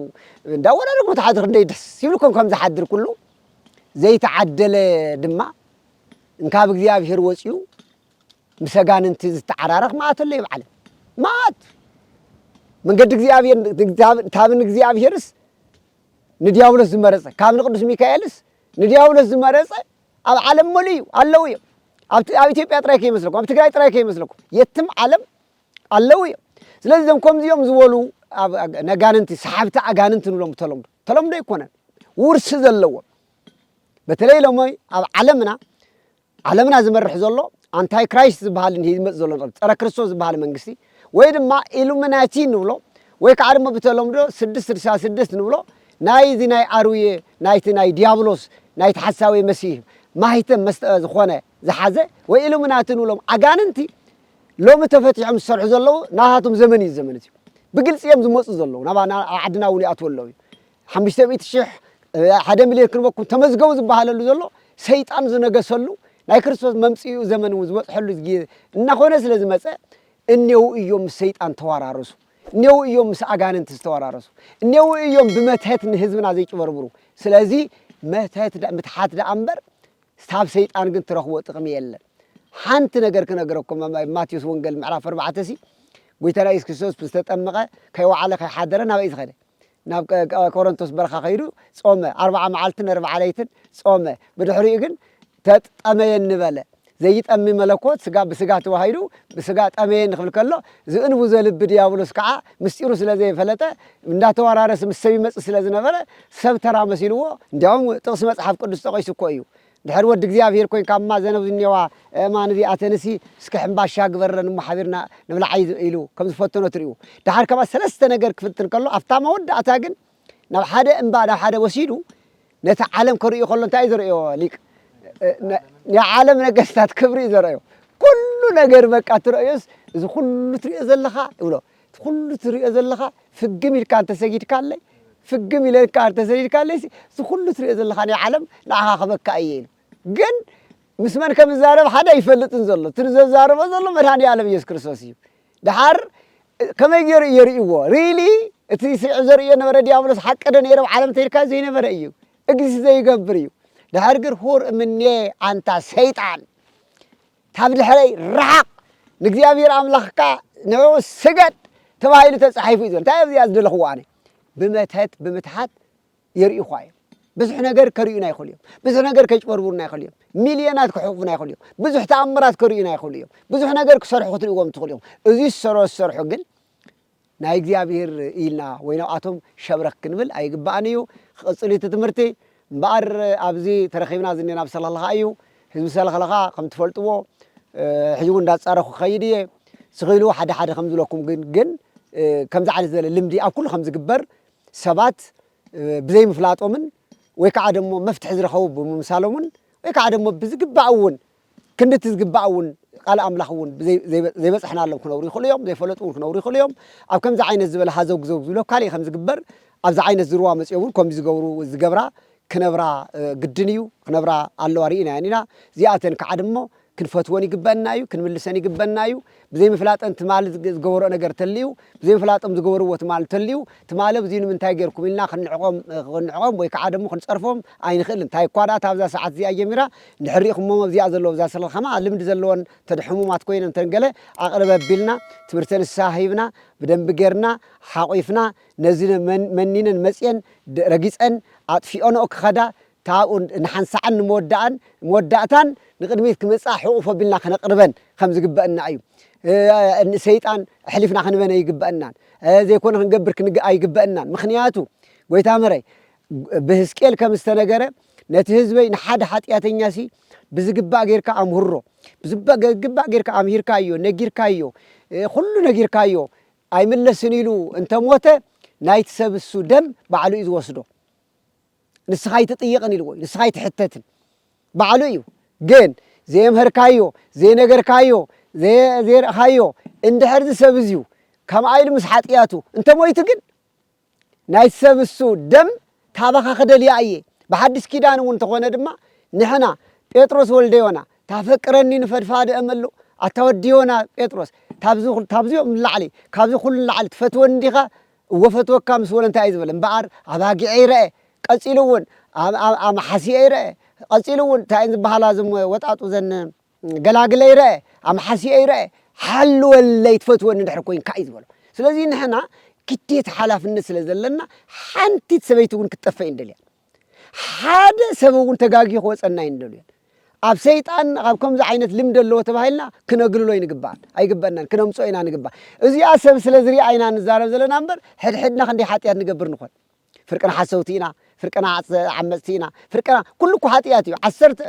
እንዳወዳደርኩም ትሓድሩ ክንደይ ደስ ይብልኩም ከም ዝሓድር ኩሉ ዘይተዓደለ ድማ እንካብ እግዚኣብሔር ወፂኡ ምስ ኣጋንንቲ ዝተዓራረኽ መዓት ኣሎ ኣብ ዓለም መዓት መንገዲ እግዚኣብሔር ካብ ንእግዚኣብሔርስ ንዲያብሎስ ዝመረፀ ካብ ንቅዱስ ሚካኤልስ ንዲያብሎስ ዝመረፀ ኣብ ዓለም መሉ እዩ ኣለዉ እዮም ኣብ ኢትዮጵያ ጥራይ ከይመስለኩም ኣብ ትግራይ ጥራይ ከይመስለኩም የትም ዓለም ኣለዉ እዮም ስለዚ እዞም ከምዚኦም ዝበሉ ነጋንንቲ ሰሓብቲ ኣጋንንቲ ንብሎም ተለምዶ ተለምዶ ኣይኮነን ውርሲ ዘለዎም በተለይ ሎሞ ኣብ ዓለምና ዓለምና ዝመርሕ ዘሎ ኣንታይ ክራይስት ዝበሃልን ሂዝመጽ ዘሎ ንቕድ ጸረ ክርስቶስ ዝበሃለ መንግስቲ ወይ ድማ ኢሉምናቲ ንብሎ ወይ ከኣ ድማ ብተለምዶ ስድስት ስድሳ ስድስት ንብሎ ናይ እዚ ናይ ኣርውየ ናይቲ ናይ ድያብሎስ ናይቲ ሓሳዊ መሲህ ማህተም መስጠ ዝኾነ ዝሓዘ ወይ ኢሉምናቲ ንብሎም ኣጋንንቲ ሎሚ ተፈቲሖም ዝሰርሑ ዘለዉ ናታቶም ዘመን እዩ እዚ ዘመን እዚ ብግልጺ እዮም ዝመጹ ዘለዉ ናባና ኣብ ዓድና እውን ይኣትዉ ኣለዉ እዩ ሓሙሽተ ሚእቲ ሽሕ ሓደ ሚልዮን ክንበኩም ተመዝገቡ ዝበሃለሉ ዘሎ ሰይጣን ዝነገሰሉ ናይ ክርስቶስ መምጽኡ ዘመን እውን ዝበጽሐሉ ግዜ እናኾነ ስለ ዝመጸ እኔዉ እዮም ምስ ሰይጣን ተወራረሱ እኔዉ እዮም ምስ ኣጋንንቲ ዝተወራረሱ እኔዉ እዮም ብመትሀት ንህዝብና ዘይጭበርብሩ ስለዚ መትሀት ምትሓት ደኣ እምበር ካብ ሰይጣን ግን ትረኽቦ ጥቕሚ የለን ሓንቲ ነገር ክነግረኩም ኣብ ማቴዎስ ወንጌል ምዕራፍ ኣርባዕተ ሲ ጎይታና ኢየሱስ ክርስቶስ ዝተጠመቐ ከይወዓለ ከይሓደረ ናበይ ዝኸደ ናብ ቆሮንቶስ በረኻ ከይዱ ጾመ፣ ኣርብዓ መዓልትን ኣርብዓ ለይትን ጾመ። ብድሕሪኡ ግን ተጠመየኒ በለ። ዘይጠሚ መለኮት ስጋ ብስጋ ተዋሂዱ ብስጋ ጠመየኒ ክብል ከሎ ዝእንቡ ዘልቢ ድያብሎስ ከኣ ምስጢሩ ስለ ዘይፈለጠ እንዳተወራረስ ምስ ሰብ ይመጽእ ስለ ዝነበረ ሰብ ተራ መሲልዎ እንዲያውም ጥቕሲ መጽሓፍ ቅዱስ ጠቒሱ እኮ እዩ ድሕር ወዲ እግዚኣብሔር ኮይንካ እማ ዘነብ ዝኔዋ እእማን እዚኣተንሲ እስከ ሕምባሻ ግበርረን እሞ ሓቢርና ንብልዓይ ኢሉ ከም ዝፈተኖ ትሪኡ ድሓር ከምኣ ሰለስተ ነገር ክፍትን ከሎ ኣብታ መወዳእታ ግን ናብ ሓደ እምባ ናብ ሓደ ወሲዱ ነቲ ዓለም ከርእዩ ከሎ እንታይ ዘርእዮ ሊቅ ናይ ዓለም ነገስታት ክብሪ እዩ ዘርእዮ ኩሉ ነገር በቃ ትርእዮስ እዚ ኩሉ ትርእዮ ዘለኻ ይብሎ እቲ ኩሉ ትሪኦ ዘለኻ ፍግም ኢልካ እንተሰጊድካለይ ፍግም ኢለ ከኣ እንተሰጊድካለይሲ እዚ ኩሉ ትሪኦ ዘለኻ ናይ ዓለም ንዓኻ ክህበካ እየ ኢሉ ግን ምስ መን ከም ዝዛረብ ሓደ ኣይፈልጥን ዘሎ እቲ ዘዛርቦ ዘሎ መድሃኒ ኣለም ኢየሱስ ክርስቶስ እዩ ድሓር ከመይ ገይሩ እየ ርእይዎ ሪሊ እቲ ስዒ ዘርእዮ ነበረ ዲያብሎስ ሓቂ ዶ ነይረ ዓለም እንተይልካ ዘይነበረ እዩ እግዚ ዘይገብር እዩ ድሕር ግር ሁር እምኔ ኣንታ ሰይጣን ካብ ድሕረይ ርሓቕ፣ ንእግዚኣብሄር ኣምላኽካ ንዕኡ ስገድ ተባሂሉ ተጻሒፉ እዩ ዝበለ። እንታይ እየ ኣብዚኣ ዝደለኽዎ ኣነ? ብመተት ብምትሓት የርእዩኻ እዮም። ብዙሕ ነገር ከርእዩና ይኽእሉ እዮም። ብዙሕ ነገር ከጭበርብሩና ይኽእሉ እዮም። ሚልዮናት ክሕቑፉና ይኽእሉ እዮም። ብዙሕ ተኣምራት ከርእዩና ይኽእሉ እዮም። ብዙሕ ነገር ክሰርሑ ክትርእዎም ትኽእሉ እዮም። እዚ ዝሰሮ ዝሰርሑ ግን ናይ እግዚኣብሔር ኢልና ወይ ናብኣቶም ሸብረክ ክንብል ኣይግባእን እዩ ክቅጽል እዩ እቲ ትምህርቲ እምበኣር ኣብዚ ተረኪብና ዝኒና ኣብ ሰለኽለኻ እዩ ህዝቢ ሰለኽለኻ ከም ትፈልጥዎ ሕጂ እውን እንዳጻረኩ ክኸይድ እየ ስኺሉ ሓደ ሓደ ከም ዝብለኩም ግን ግን ከምዚ ዓይነት ዝበለ ልምዲ ኣብ ኩሉ ከም ዝግበር ሰባት ብዘይ ምፍላጦምን ወይ ከዓ ደሞ መፍትሒ ዝረኸቡ ብምምሳሎምን ወይ ከዓ ደሞ ብዝግባእ እውን ክንዲ እቲ ዝግባእ እውን ቃል ኣምላኽ እውን ዘይበጽሕናሎም ክነብሩ ይኽእሉ እዮም፣ ዘይፈለጡ እውን ክነብሩ ይኽእሉ እዮም። ኣብ ከምዚ ዓይነት ዝበለ ሃዘውግ ዘውግ ዝብሎ ካልእ ከም ዝግበር ኣብዚ ዓይነት ዝርዋ መጺኦም እውን ከምዚ ዝገብሩ ዝገብራ ክነብራ ግድን እዩ፣ ክነብራ ኣለዋ ርኢናየን ኢና። እዚኣተን ክዓ ድሞ ክንፈትወን ይግበእና እዩ፣ ክንምልሰን ይግበእና እዩ። ብዘይምፍላጠን ትማል ዝገበርኦ ነገር ተልዩ ብዘይምፍላጦም ዝገበርዎ ትማል ተልዩ ትማል ኣብዙይ ንምንታይ ገርኩም ኢልና ክንዕቆም ክንዕቆም ወይ ከዓ ደሞ ክንፀርፎም ኣይንኽእልን እንታይ እኳ ድኣ እታ ኣብዛ ሰዓት እዚኣ ጀሚራ እንድሕር ሪኢኹሞም ኣብዚኣ ዘለዉ ኣብዛ ስለ ከማኣ ልምዲ ዘለወን እተን ሕሙማት ኮይነን እተን ገለ ኣቕርብ ኣቢልና ትምህርተ ንስሃ ሂብና ብደንቢ ገርና ሓቑፍና ነዚ መን መኒነን መፅየን ረጊፀን ኣጥፊኦንኦ ክኸዳ ካብኡ ንሓንሳዕን ንመወዳእን መወዳእታን ንቕድሚት ክመጽኣ ሕቑፍ ኣቢልና ከነቕርበን ከም ዝግበእና እዩ። ንሰይጣን ኣሕሊፍና ክንበን ኣይግበእናን። ዘይኮነ ክንገብር ክንግ ኣይግበእናን። ምክንያቱ ጎይታ መረይ ብህዝቅኤል ከም ዝተነገረ ነቲ ህዝበይ ንሓደ ሓጢኣተኛ ሲ ብዝግባእ ጌርካ ኣምህሮ ብዝግባእ ጌርካ ኣምሂርካዮ ነጊርካዮ ኩሉ ነጊርካዮ ኣይምለስን ኢሉ እንተሞተ ናይቲ ሰብ እሱ ደም ባዕሉ እዩ ዝወስዶ። ንስኻ ኣይትጥይቕን ኢልዎ እዩ፣ ንስኻ ኣይትሕተትን ባዕሉ እዩ። ግን ዘየምሀርካዮ፣ ዘይነገርካዮ፣ ዘየርእኻዮ እንድሕር እዚ ሰብ እዚዩ ከምኣ ኢሉ ምስ ሓጥያቱ እንተ ሞይቱ ግን ናይቲ ሰብ እሱ ደም ታባኻ ክደልያ እየ። ብሓድሽ ኪዳን እውን እንተኾነ ድማ ንሕና ጴጥሮስ ወልደ ዮና ታፈቅረኒ ንፈድፋደ እምሉ ኣታ ወዲ ዮና ጴጥሮስ ታብዚ ታብዚኦም ንላዕሊ ካብዚ ኩሉ ንላዕሊ ትፈትወኒ እንዲኻ እወ እፈትወካ ምስ በሎ እንታይ እዩ ዝበለ? እምበኣር ኣባጊዐይ ረኣ፣ ቀጺሉ እውን ኣማሓስየይ ረኣ፣ ቀጺሉ እውን እንታይ እየን ዝበሃላ እዞም ወጣጡ እዘን ገላግለይ ረኣ፣ ኣማሓስየይ ረኣ፣ ሓልወለይ ትፈትወኒ እንድሕር ኮይንካ እዩ ዝበሎ። ስለዚ ንሕና ግዴታ ሓላፍነት ስለ ዘለና ሓንቲት ሰበይቲ እውን ክትጠፍእ ኣይንደልያን። ሓደ ሰብ እውን ተጋግዩ ክወፀና ኣይንደልዮን። ኣብ ሰይጣን ኣብ ከምዚ ዓይነት ልምዲ ኣለዎ ተባሂልና ክነግልሎ ይንግባእ ኣይግበእናን ክነምፅኦ ኢና ንግባእ እዚኣ ሰብ ስለ ዝሪኣ ኢና ንዛረብ ዘለና እምበር ሕድሕድና ክንደይ ሓጢኣት ንገብር ንኾን ፍርቅና ሓሰውቲ ኢና ፍርቅና ዓመፅቲ ኢና ፍርቅና ኩሉ እኮ ሓጢኣት እዩ ዓሰርተ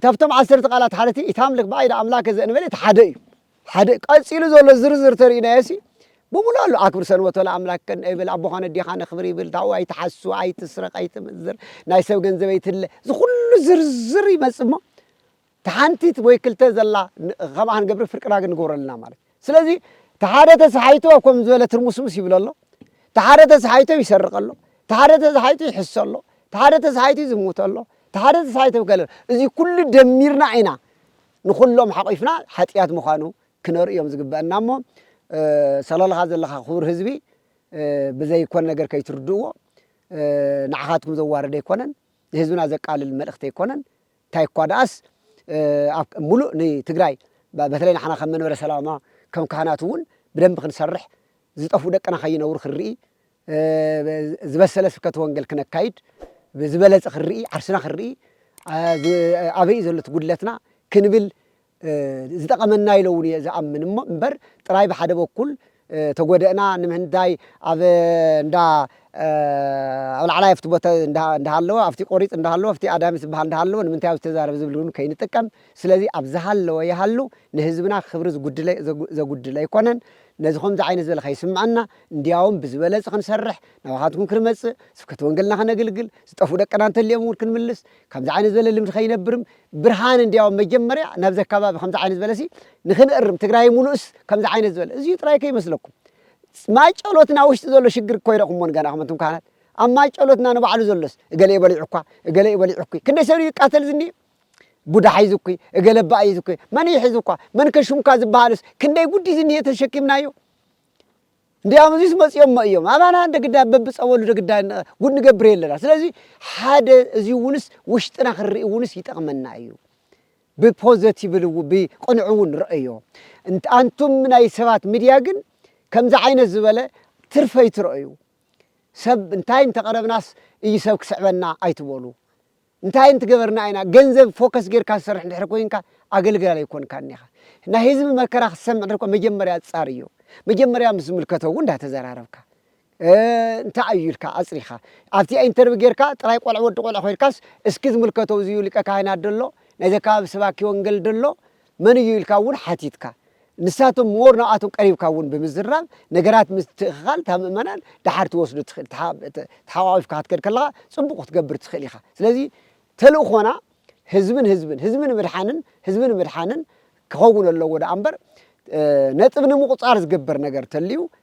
ካብቶም ዓሰርተ ቃላት ሓረቲ ኢታምልክ ብኣይደ ኣምላከ ዘእንበለ እቲ ሓደ እዩ ሓደ ቀጺሉ ዘሎ ዝርዝር ተሪእናዮሲ ብምሉእ ኣሉ ኣክብር ሰንበቶ ለኣምላክ ከን እብል ኣቦኻ ነዴኻ ነክብር ይብል ታኡ ኣይትሓሱ ኣይትስረቅ ኣይትምንዝር ናይ ሰብ ገንዘብ ኣይትለ ዝኩሉ ዝርዝር ይመጽእ እሞ ተሓንቲት ወይ ክልተ ዘላ ከምኣ ክንገብር ፍርቂ ዳግ ንገብሮ ኣለና ማለት ስለዚ ተሓደ ተሰሓይቱ ኣብ ከም ዝበለ ትርሙስሙስ ይብሎ ኣሎ ተሓደ ተሰሓይቶ ይሰርቅ ኣሎ ተሓደ ተሰሓይቶ ይሕሶ ኣሎ ተሓደ ተሰሓይቶ ይዝሙት ኣሎ ተሓደ ተሰሓይቶ ከለ እዚ ኩሉ ደሚርና ኢና ንኹሎም ሓቒፍና ሓጥያት ምዃኑ ክነርእዮም ዝግበእና እሞ ሰለልኻ ዘለኻ ክቡር ህዝቢ ብዘይ ኮን ነገር ከይትርድእዎ ንዓኻትኩም ዘዋርድ ኣይኮነን ንህዝብና ዘቃልል መልእኽቲ ኣይኮነን እንታይ እኳ ደኣስ ኣብ ሙሉእ ንትግራይ በተለይ ንሓና ከም መንበረ ሰላማ ከም ካህናት እውን ብደንብ ክንሰርሕ ዝጠፍኡ ደቅና ከይነብሩ ክንርኢ ዝበሰለ ስብከተ ወንጌል ክነካይድ ብዝበለጸ ክንርኢ ዓርስና ክንርኢ ኣበይ እዩ ዘሎ እቲ ጉድለትና ክንብል ዝጠቐመና እዩ ኢለ እውን እየ ዝኣምን እሞ እምበር ጥራይ ብሓደ በኩል ተጎደእና ንምንታይ ኣብ እንዳ ኣብ ላዕላይ ኣብቲ ቦታ እንዳሃለወ ኣብቲ ቆሪፅ እንዳሃለወ ኣብቲ ኣዳሚ ዝበሃል እንዳሃለወ ንምንታይ ኣብዚ ተዛረብ ዝብል እውን ከይንጥቀም ስለዚ ኣብ ዝሃለወ ይሃሉ ንህዝብና ክብሪ ዘጉድል ኣይኮነን ነዚ ከምዚ ዓይነት ዝበለ ከይስምዐና እንድያውም ብዝበለጸ ክንሰርሕ፣ ናባኻትኩም ክንመጽእ፣ ስብከተ ወንገልና ከነግልግል፣ ዝጠፍኡ ደቅና እንተልዮም እውን ክንምልስ፣ ከምዚ ዓይነት ዝበለ ልምዲ ከይነብርም፣ ብርሃን እንድያውም መጀመርያ ናብዚ ኣከባቢ ከምዚ ዓይነት ዝበለሲ ንክንእርም፣ ትግራይ ሙሉእስ ከምዚ ዓይነት ዝበለ እዚዩ ጥራይ ከይመስለኩም። ማይጨሎትና ውሽጢ ዘሎ ሽግር እኮ ይረእኹሞ ንገና ክመንቱም ካህናት ኣብ ማይጨሎትና ንባዕሉ ዘሎስ እገለ እዩ በሊዑ እኳ እገለ እዩ በሊዑ እኩ ክንደይ ሰብ ይቃተል ዝኒ ቡዳ ሒዙ እኩ እገለ ባእ እዩ ዝኩ መን እዩ ሒዙ እኳ መን ከሹምካ ዝበሃልስ ክንደይ ጉዲ ዝኒሄ ተሸኪምናዮ እንዲያውም እዚስ መፂኦሞ እዮም ኣባና እንደ ግዳ በብፀበሉ ደግዳ ጉድ ንገብር የለና ስለዚ ሓደ እዚ እውንስ ውሽጥና ክንርኢ እውንስ ይጠቕመና እዩ ብፖዘቲቭ ብቅንዕ እውን ረአዮ ኣንቱም ናይ ሰባት ሚድያ ግን ከምዚ ዓይነት ዝበለ ትርፈ ይትረአዩ ሰብ እንታይ እንተቐረብናስ እዩ ሰብ ክስዕበና ኣይትበሉ እንታይ እንትገበርና ኢና ገንዘብ ፎከስ ገርካ ዝሰርሕ እንድሕር ኮይንካ ኣገልጋሊ ኣይኮንካን ኢኻ ናይ ህዝቢ መከራ ክትሰምዕ እንድሕር ኮን መጀመርያ ኣጻርዮ መጀመርያ ምስ ዝምልከቶ ውን እንዳተዘራረብካ እንታይ ኣዩ ኢልካ ኣጽሪኻ ኣብቲኣ ኢንተርቪ ገርካ ጥራይ ቆልዕ ወዲ ቆልዕ ኮይንካስ እስኪ ዝምልከቶ እዚዩ ሊቀ ካህናት ደሎ ናይዚ ኣከባቢ ሰባኪ ወንገል ደሎ መን እዩ ኢልካ እውን ሓቲትካ፣ ንሳቶም ሞር ንኣቶም ቀሪብካ እውን ብምዝራብ ነገራት ምትእኽኻል እታ ምእመናን ደሓር ትወስዶ ትኽእል ተሓቋቒፍካ ክትከድ ከለኻ ፅቡቕ ክትገብር ትኽእል ኢኻ ስለዚ ተልእኾና ህዝብን ህዝብን ህዝቢ ንምድሓንን ህዝቢ ንምድሓንን ክኸውን ኣለዎ ደኣ እምበር ነጥብ ንምቑፃር ዝግበር ነገር ተልዩ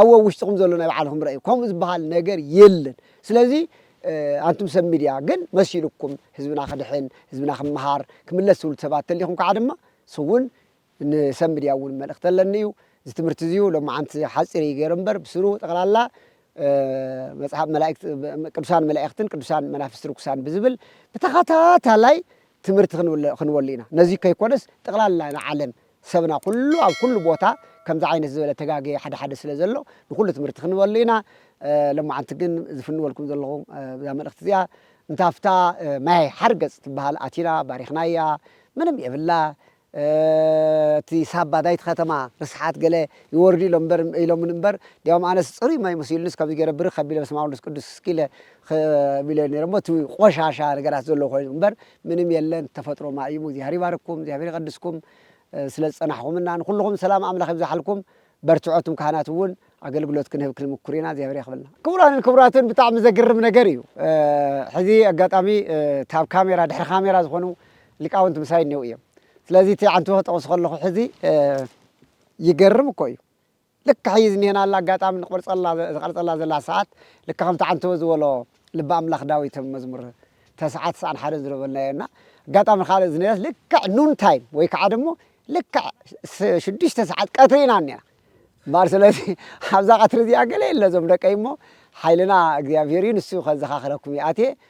ኣው ኣብ ውሽጥኹም ዘሎ ናይ ባዕልኹም ረእዩ ከምኡ ዝበሃል ነገር የለን ስለዚ ኣንቱም ሰብ ሚድያ ግን መሲሉኩም ህዝብና ክድሕን ህዝብና ክመሃር ክምለስ ትብሉ ሰባት ተሊኹም ከዓ ድማ ስውን ንሰብ ሚድያ እውን መልእክቲ ኣለኒ እዩ እዚ ትምህርቲ እዚዩ ሎማዓንቲ ሓፂር እዩ ገይረ እምበር ብስሩ ጠቕላላ መፅሓፍ መላእክት ቅዱሳን መላእክትን ቅዱሳን መናፍስቲ ርኩሳን ብዝብል ብተኸታታላይ ትምህርቲ ክንበሉ ኢና ነዚ ከይኮነስ ጠቕላላ ንዓለም ሰብና ኩሉ ኣብ ኩሉ ቦታ ከምዚ ዓይነት ዝበለ ተጋግየ ሓደ ሓደ ስለ ዘሎ ንኩሉ ትምህርቲ ክንህበሉ ኢና ሎማዓንቲ ግን ዝፍንወልኩም ዘለኹ እዛ መልእኽቲ እዚኣ እንተ ኣብታ ማይ ሓርገጽ ትብሃል ኣቲና ባሪኽናያ ምንም የብላ እቲ ሳባ ዳይት ከተማ ርስሓት ገለ ይወርዱ ኢሎም እምበር ኢሎምኒ እምበር እንዲያውም ኣነስ ጽሩይ ማይ መሲሉንስ ከምዚ ገይረ ብርኽ ኣቢለ በስመኣብ ወወልድ ወመንፈስ ቅዱስ እስኪ ኢለ ኽ ቢለዮ ነይረ እሞ እቲ ቆሻሻ ነገራት ዘለዎ ኮይኑ እምበር ምንም የለን ተፈጥሮ ማይ እዩሞ እግዚኣቢሄር ይባርክኩም እግዚኣቢሄር ይቀድስኩም ስለ ዝጸናሕኹምና ንኹልኹም ሰላም ኣምላኽ ይብዛሓልኩም በርትዑ ኣቱም ካህናት እውን ኣገልግሎት ክንህብ ክንምኩር ኢና እግዚኣብሔር ያክብልና ክቡራንን ክቡራትን ብጣዕሚ ዘግርም ነገር እዩ ሕዚ ኣጋጣሚ ታብ ካሜራ ድሕሪ ካሜራ ዝኾኑ ሊቃውንት ምሳይ እኔው እዮም ስለዚ እቲ ዓንቱ ክጠቕሱ ከለኹ ሕዚ ይገርም እኮ እዩ ልክዕ ሕይ ዝኒሀናላ ኣጋጣሚ ንቆርጸላ ዝቐርጸላ ዘላ ሰዓት ልክዕ ከምቲ ዓንተቦ ዝበሎ ልበ ኣምላኽ ዳዊት ኣብ መዝሙር ተስዓ ትስዓን ሓደን ዝረበልናዮ እና ኣጋጣሚ ካልእ ዝኒሀስ ልክዕ ኑን ታይም ወይ ክዓ ደሞ ልክዕ ሽዱሽተ ሰዓት ቀትሪ ኢና እኒሀና እምበኣር ስለዚ ኣብዛ ቀትሪ እዚኣ ገለ የለ እዞም ደቀይ እሞ ሓይልና እግዚኣብሔር እዩ ንሱ ከዘኻኽረኩም ይኣትየ